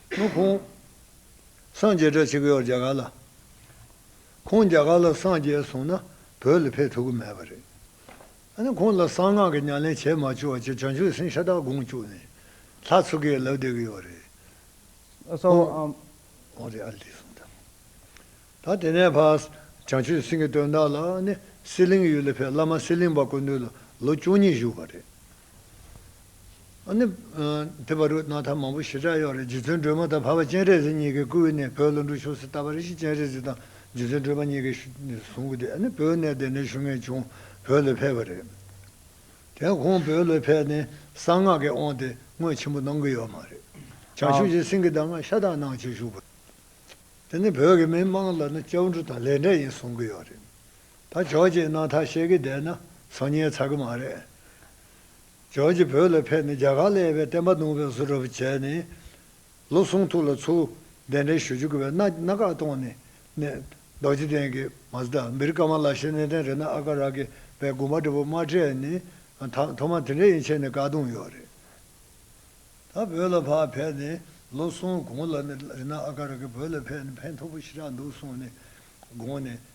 S1: ནུབ་ཁོང། སངས་རྒྱས་བཀྲ་ཆེ་གེ་ཡོག་རྒྱ་གར་ལ། ཁོང་རྒྱ་གར་ལ་སངས་རྒྱས་སོང་ན་བོད་ལ་ཕེབས་ཐུབ་ཀི་མེད་པ་རེད། ཨ་ནི་ཁོང་ལ་གསང་སྔགས་ཀྱི་ཉམས་ལེན་བྱས་མ་བཅུག་བར་གྱི་བྱང་ཆུབ་སེམས་ཤ་སྟག་དགོངས་བཅུག་ནས་ལྷ་ཚོ་གེ་ལབ་བསྡད་གི་ཡོག་
S2: རེད།
S1: ད་དེ་ནས་བར་བྱང་ཆུབ་སེམས་ཀྱི་དོན་དག་ལ་ཨ་ནི་སེར་གླིང་ཡུལ་ལ་ཕེབས་བླ་མ་སེར་གླིང་པ་དཀོན་འདུས་ལ་ལོ་བཅུ་གཉིས་བཞུགས་པ་རེད། དེ་བར་རུ་ནག་ཐ་མང་པོ་ཞི་དྲག་གཡོག་རེ་རྗེ་བཙུན་སྒྲོལ་མ་དང་བྷ་བ་སྤྱན་རས་གཟིགས་གཉིས་ཀའི་སྐུ་དབུས་ནས་བོད་བློན་འབྲུག་ཆོས་སི་ཏཱ་བྷ་རི་ཤི་སྤྱན་རས་གཟིགས་དང་རྗེ་བཙུན་སྒྲོལ་མ་གཉིས་ཀས་བཟུང་སྐུ་དེ་ནི་བོད་གནས་དེ་ནས་ཤུལ་ངེས་བྱུང་བོད་ལ་ཕེབས་པ་རེད། དེ་ཁོང་བོད་ལ་ཕེབས་ནས་གསང་སྔགས་ཀྱི་དབང་དེ་སྔོན་ཆེན་པོ་གནང་གི་ཡོད་མ་རེད། བྱང་ཆུབ་ཀྱི་སེམས་ཀྱི་གདམས་ངག་ཤ་སྟག་གནང་བྱེད་བཞུགས་པ། དེ་ནི་བོད་ཀྱི་མི་དམངས་ལ་ནི་སྐྱབས་འགྲོ་དང་ལས་འབྲས་ཡིན་གསུང་གི་ཡོད་རེད། ད་ཇོ་ཇེ་ནང་ཐག་བཤད་གི་བསྡད་ན་ཚོ་ཉེས་ཚར་གི་མ་རེད། ཇོ་ཇེ་བོད་ལ་ཕེབས་ནས་རྒྱ་གར་ལ་ཡོད་པའི་བསྟན་པ་རྡུང་བའི་བཟོ་གྲབས་བྱས་ནས། ལོ་གསུང་ཐུགས་ལ་ཚུར་གདན་འདྲེན་ཞུ་རྒྱུ་གི་བའི་མནའ་གནའ་བཀག་གཏོང་ནས་ནས། རྡོ་རྗེ་གདན་གྱི Mazda འབིར་ཀ་མ་ལ་ཤེ་ནེ་ཏན་རེ་ན་ཨ་ཀ་ར་གི་བའི་དགོན་པ་འདྲ་པོ་མ་སྤྲད་ནས་ད་ཐོག་མ་དེ་འདྲ་ཡིན་ཆེ་ནས་བཀག་གཏོང་ཡོད་རེད། ད་བོད་ལ་ཕར་ཕེབས་ནས་ལོ་གསུང་གོང་ལ་ནས་རེ་ན་ཨ་ཀ་ར་གི་བོད་ལ་ཕེབས་ནས་ཕན་ཐོག་པོ་ཞེ་དྲག་འདུག་གསུང་ནས་དགོངས་ནས།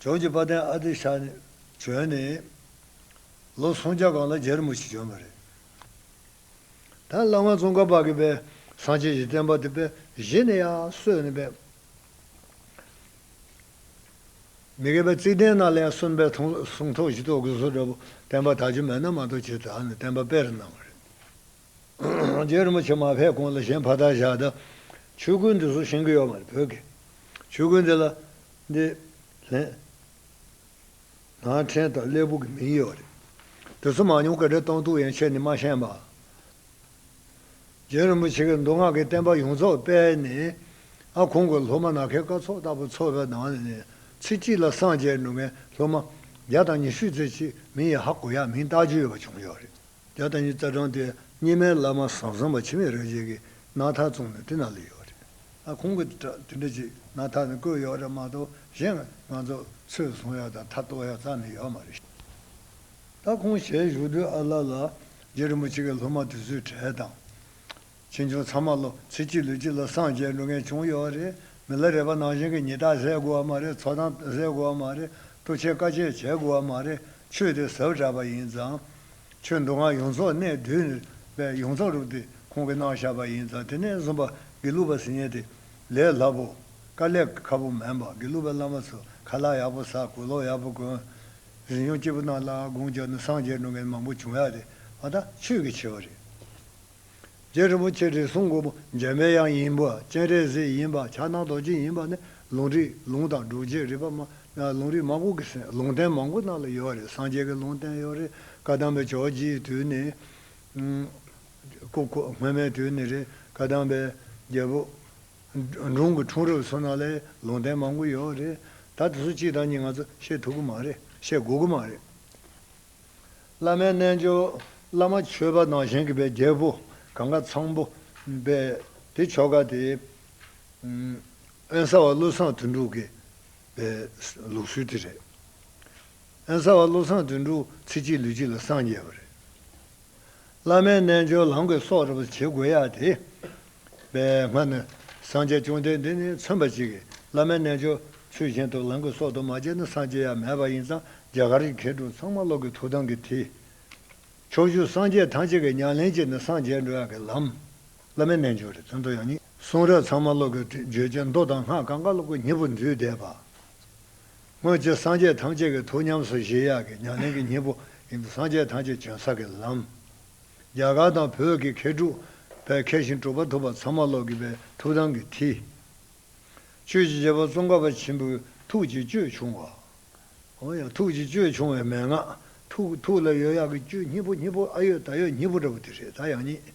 S1: ཇོ་ཇོ་དཔའ་ལྡན་ཨ་ཏི་ཤ་ནི་བྱོན་ནས། ལོ་སུམ་བརྒྱ་གང་ལ་རྒྱལ་མོ་ཞིག་བྱོན་པ་རེད། ད་བླ་མ་ཙོང་ཁ་པ་གི་པའི་སངས་རྒྱས་ཀྱི་བསྟན་པ་དེ་པའི་གཞི་ནས་ཡག་སོས་ནས་པའི། མི་དགེ་བའི་རྩིག་གདན་ནགས་ལས་གསོན་པའི་ཐུང་ལ་སུང་ཐོག་བཞི་ཐོག་དགུ་སོ་འདྲ་པོ་བསྟན་པ་དག་ཆུ་མེད་ན་མ་གཏོགས་བྱེད་དག་ནས་བསྟན་པ་སྤེལ་རུ་གནང་བ་རེད། རྗེ་རིན་པོ་ཆེ་མ་ཕེབས་གོང་ལ་གཞན་ཕ་དར་བཞག་ད་ཆོས་ཁུལ་འདི་སུ་ཞིང་གི་ཡོད་མ་རེད་བོད་ཀྱི་ཆོས་ཁུལ་འདི་ལ་འདི་ལྷན་ནང་ཕྲན་དང་སླེ་བུ་གི་མིང་ཡོད་རེད་དེ་ཚོ་མང་ཉུང་ག་འདྲ་གཏོང་ཐུག་ཡན་ཆད་ནི་མ་ཤེས་མ། རྗེ་རིན་པོ་ཆེ་གི་མདོ་སྔགས་ཀྱི་བསྟན་པ་ཡོངས་རྫོགས་སྤེལ་ནས་ཨ་ཁོང་གི་སློབ་མ་ནག་ཁའི་སྐར་ཚོགས་ལྟ་བུ་འཚོ་བའི་ནང་ནས་ཚེ་གཅིག་ལ་སངས་རྒྱས་འགྲོ་མཁན་སློབ་མ་བརྒྱ་དང་ཉི་ཤུ་ཚེ་གཅིག་མིན་ཡ་ཧ་གོ་ཡ་མིན་བཏགས་རྒྱུ་ཡོད་པ་བྱུང་ཡོད་རེད། བརྒྱ་དང་ཉིས་བརྩེགས་བགྲངས་ཏེ་སྙེ་མའི་བླ་མ་ཟང་ཟིང་བ་འཆི་མེད་རིན་ཆེན་གྱི་སྣག་ཐག་བཙུགས་ནས་དེ་ན་ལས་ཡོད་རེད། ཨ་ཁོང་གིས་དེ་འདྲ་ཅིག་སྣག་ཐག་ནས་བརྐོས་ཡོད་རེད་མ་གཏོགས་གཞན་ང་ཚོ་ཚོས་བཟུང་ཡག་དང་ཐག་གཏོགས་ཡག་རྩ་ནས་ཡོད་མ་རེད། ད་ཁོང་ཞལ་བཞུགས་དུས་ཨ་ལ་ལ་རྗེ་རིན་པོ་ཆེ་གི་སློབ་མ་དེ་ཚོའི་གྲས་དང། ཕྱིས་འབྱུང་ཚང་མ་ལོ་ཕྱེད་ཅིག་ལུས་ཅིག་ལ་སངས་རྒྱས་འགྲོ་མཁན་བྱུང་ཡོད་བ་རེད་མི་ལ་རས་པ་ནང་བཞིན་གྱི་ཉི་རྟགས་བཟས་དགོས་བ་མ་རེད་འཚོ་སྟངས་བཟས་དགོས་བ་མ་རེད་ལྟོ་ཆས་དཀའ་སྤྱད་བྱས་དགོས་བ་མ་རེད་ཆོས་དེ་ཟབ་དྲགས་པ་ཡིན་ཙང། ཆོས་མདོ་སྔགས་ཡོངས་རྫོགས་གནས་བདུན་ནས་པའི་ཡོངས་རྫོགས་རུབ་དེ་ཁོང་གི་གནང་བཞག་པ་ཡིན་ཙང་དེ་ནས་བཟུང་པ་དགེ་ལུགས་པ་ཟིན་ཉེ་དེ་ལས་སླ་པོ། དཀའ་ལས་ཁ་པོ་མེད་པ་དགེ་ལུགས་པའི་བླ་མ་ཚོས་ཁ་ལག་ཡག་པོ་ཟ་གོས་ལོག་ཡག་པོ་གོན། རིག་སྙོམས་སྐྱིད་པོ་གནང་ལ་དགོངས་རྒྱབ་ན་སངས་རྒྱས་འགྲོ་མཁན་མང་པོ་བྱུང་ཡག་རེད་བ་ད་ཆོས་ཀྱི་ཆེ་བ་རེད། རྗེ་རིན་པོ་ཆེ་དྲི་བསུང་མགོན་པོ་འཇམ་པའི་དབྱངས་ཡིན་པ་སྤྱན་རས་གཟིགས་ཡིན་པ་ཕྱག་ན་རྡོ་རྗེ་ཡིན་པ་ནི་ལུང་རིག་ལུང་དང་སྒྲུབ་བྱེད་རིག་པ་མ་ལུང་རིག་མང་པོ་གི་ཟིན་ལུང་བསྟན་མང་པོ་རྣ་ལ་ཡོད་རེད་སངས་རྒྱས་ཀྱི་ལུང་བསྟན་ཡོད་རེད་བཀའ་གདམས་པའི་ཆོས་རྗེ་ཡི་དུས་ནས་སྔོན་མའི་དུས་ནས་རེད་བཀའ་གདམས་པའི་རྒྱལ་པོ་འབྲུང་གི་འཁྲུངས་རབས་ཚོ་རྣ་ལས་ལུང་བསྟན་མང་པོ་ཡོད་རེད་ད་དེ་ཚོ་གཅིག་དང་གཉིས་ང་ཚོ་ཤེས་ཐུབ་ཀྱི་མ་རེད་ཤེས་དགོས་ཀྱི་མ་རེད། བླ་མའི་རྣལ་འབྱོར། བླ་མ་མཆོད་པ་ནང་བཞིན་གྱི་པའི་རྒྱལ་པོ་གང་གཱ་ཚང་པོ། པའི་དེ་ཆོ་ག་དེ། ཨན་གསར་བ་བློ་བཟང་དོན་གྲུབ་ཀྱི། པའི་ལུགས་སྲོལ་དེ་རེད། ཨན་གསར་བ་བློ་བཟང་དོན་གྲུབ་ཚེ་གཅིག་ལུས་གཅིག་ལ་སངས་རྒྱས་པ་རེད། བླ་མའི་རྣལ་འབྱོར་ལམ་གྱི་སྲོག་རུ་བ་བྱེད་དགོས་ཡ་དེ། པའི་སྔ་ནི། སངས་རྒྱས་བཅོམ་ལྡན་འདས་ནི་མཚོན་པ་ཅིག་གིས་བླ་མའི་རྣལ་འབྱོར་ཚུལ་བཞིན་དུ་ལམ་གྱི་སྲོག་ཏུ་མ་བྱས་ན་སངས་རྒྱས་ཡ་མེད་པ་ཡིན་ཙང་རྒྱ་གར་གྱི་མཁས་གྲུབ་ཚང་མ་ཀློག་གི་ཐུགས་དམ་གྱི་དེ། ཕྱོགས་བཅུ་སངས་རྒྱས་ཐམས་ཅད་ཀྱི་ཉམས་ལེན་གྱི་ནི་སངས་རྒྱས་འགྲོ་ཡང་གི་ལམ། བླ་མའི་རྣལ་འབྱོར་རེད་དོན་དུ་ཡང་ནི། གསུང་རབ་ཚང་མ་ཀློག་གི་བརྗོད་བྱ་མདོ་དང་སྔགས་གང་ག་ཀློག་གི་མྱི་བུ་འདུས་སྡེ་པ། སྔོན་ཚེ་སངས་རྒྱས་ཐམས་ཅད་ཀྱི་ཐུགས་ཉམས་སུ་བཞེས་ཡག་གི་ཉམས་ལེན་གྱི་སྙིང་པོ་ཡིན་པས་སངས་རྒྱས་ཐམས་ཅད་བྱོན་ས་ཀྱི་ལམ། རྒྱ་གར་དང་བོད་ཀྱི་མཁས་གྲུབ་བས་མཁས་ཤིང་གྲུབ་པ་ཐུབ་པ་ཚང་མ་བློ་གི་པའི་ཐུགས་དམ་གྱི་མཐིལ། ཆོས་ཀྱི་རྗེ་པོ་ཙོང་ཁ་པ་ཆེན་པོའི་ཐུགས་ཀྱི་སྤྱོད་ཆུང་བ། འོན་ཡང་ཐུགས་ཀྱི་སྤྱོད་ཆུང་བའི་མན་ངག། ཐུགས་ལ་ཡོད་ཡག་གི་སྤྱོད་སྙིང་པོ་སྙིང་པོ་ཨ་ཡོད་ད་ཡོད་སྙིང་པོ་འདྲ་བོ་དེ་རེད་ད་ཡག་ཉིད།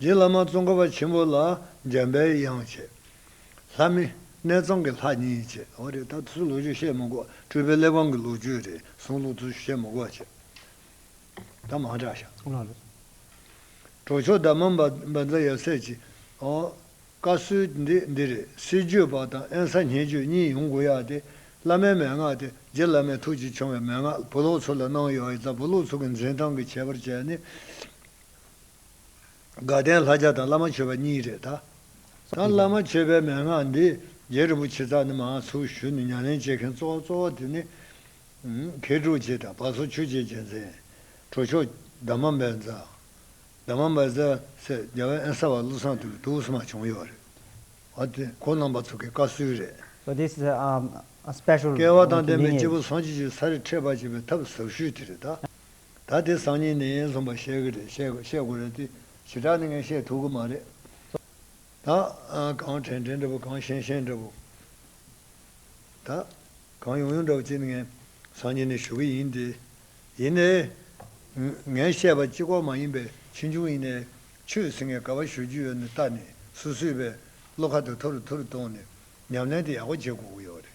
S1: རྗེ་བླ་མ་ཙོང་ཁ་པ་ཆེན་པོ་ལ་འཇམ་པའི་དབྱངས་བཅས། ལྷ་མི། གནས་གཙང་གི་ལྷ་གཉིས་བཅས། འོ་རེད་ད་དུས་སུ་ལོ་རྒྱུས་བཤད་མི་གོ། སྤྲུལ་པའི་གླེགས་བམ་གྱི་ལོ་རྒྱུས་རེ་ཟུང་ལོ་ཙུ་བཤད་མི་གོ་བྱས། ད་མང་དྲག་ཤག། ཨོ་ལོ། གྲོགས་མཆོག་ཟླ་མ་འབའ་འཛའ་ཡབ་སྲས་ཀྱིས། ཨོ། བཀའ་སྲོལ་འདི་འདི་རེད་སྲིད་བརྗོད་པ་དང་ཨེན་ས་ཉན་བརྗོད་གཉིས་ཡོང་དགོས་ཡ་སྟེ། བླ་མའི་མན་ངག་སྟེ་རྗེ་བླ་མའི་ཐུགས་ཀྱིས་ཕྱུང་བའི་མན་ངག་བུ་ལོག་ཚོ་ལ་གནང་ཡོད་ཨེ་ད་བུ་ལོག་ཚོ་གི་འཛིན་སྟངས་ཀྱི་ཁྱད་པར་བྱས་ནས། དགའ་ལྡན་ལྷ་བརྒྱ་དང་བླ་མ་མཆོད་པ་གཉིས་རེད་ད། དང་བླ་མ་མཆོད་པའི་མན་ངག་འདི་རྗེ་རིན་པོ་ཆེ་ཚང་ནི་མང་ཚོགས་ཞུ་ནས་ཉམས་ལེན་བྱེད་མཁན་གཙོ་བོ་གཙོ་བོ་དེ་ནི། མཁས་གྲུབ་རྗེ་དང་བ་སོ་ཆོས་རྗེ་རྒྱལ་མཚན། གྲོ་ཆོག། དར་མ་འབལ་རྫ། དར་མ་འབལ་རྫ། སེར་རྒྱལ་བན་ཨན་ས་བ་བློ་བཟང་དུ་ལུ་སུ་མ་བྱུང་ཡོད་རེད། བ་དེ་གོ་རྣམ་པ་ཚོ་གི་བཀའ་སུལ་རེད། བ་དེ་
S2: སྤེ་ཤུལ་བ་དང་ལྡན་པའི་སྐྱེས་
S1: བུ་སངས་རྒྱས་ཀྱི་
S2: ས་རེད་
S1: འཕྲད་པ་བྱེད་པའི་ཐབས་ཟབ་ཤོས་དེ་རེད་ད། ད་དེ་སང་ཉིན་ནས་ཡན་ལྷུན་པ་བཤད་གི་རེད་བཤད་དགོས་རེད་དེ་ཞི་དྲག་ནི་ངས་བཤད་ཐུབ་གི་མ་རེད་ད། གང་དྲན་དྲན་འདྲ་བོ་གང་ཤན་ཤན་འདྲ་བོ་ད། གང་ཡོང་ཡོང་འདྲ་བོ་ཅིག་ནི་ངས་སང་ཉིན་ནས་ཞུ་གི་ཡིན་ཏེ། ཡིན་ནའི། ངས་བཤད་པ་སྤྱི་ཁོག་མ་ཡིན་པའི་ཕྱི་འབྱུང་ཡིན་ནའི། ཆོས་ཟིན་ངས་ག་བ་ཞུ་རྒྱུ་ཡོད་ནི་ལྟ་ནི་སུ་སུས་པའི་བློ་ཁ་དུ་ཐུར་ཐུར་གཏོང་ནི་ཉམས་ལེན་དེ་ཡག་པོ་བྱེད་དགོས་གི་ཡོད་རེད།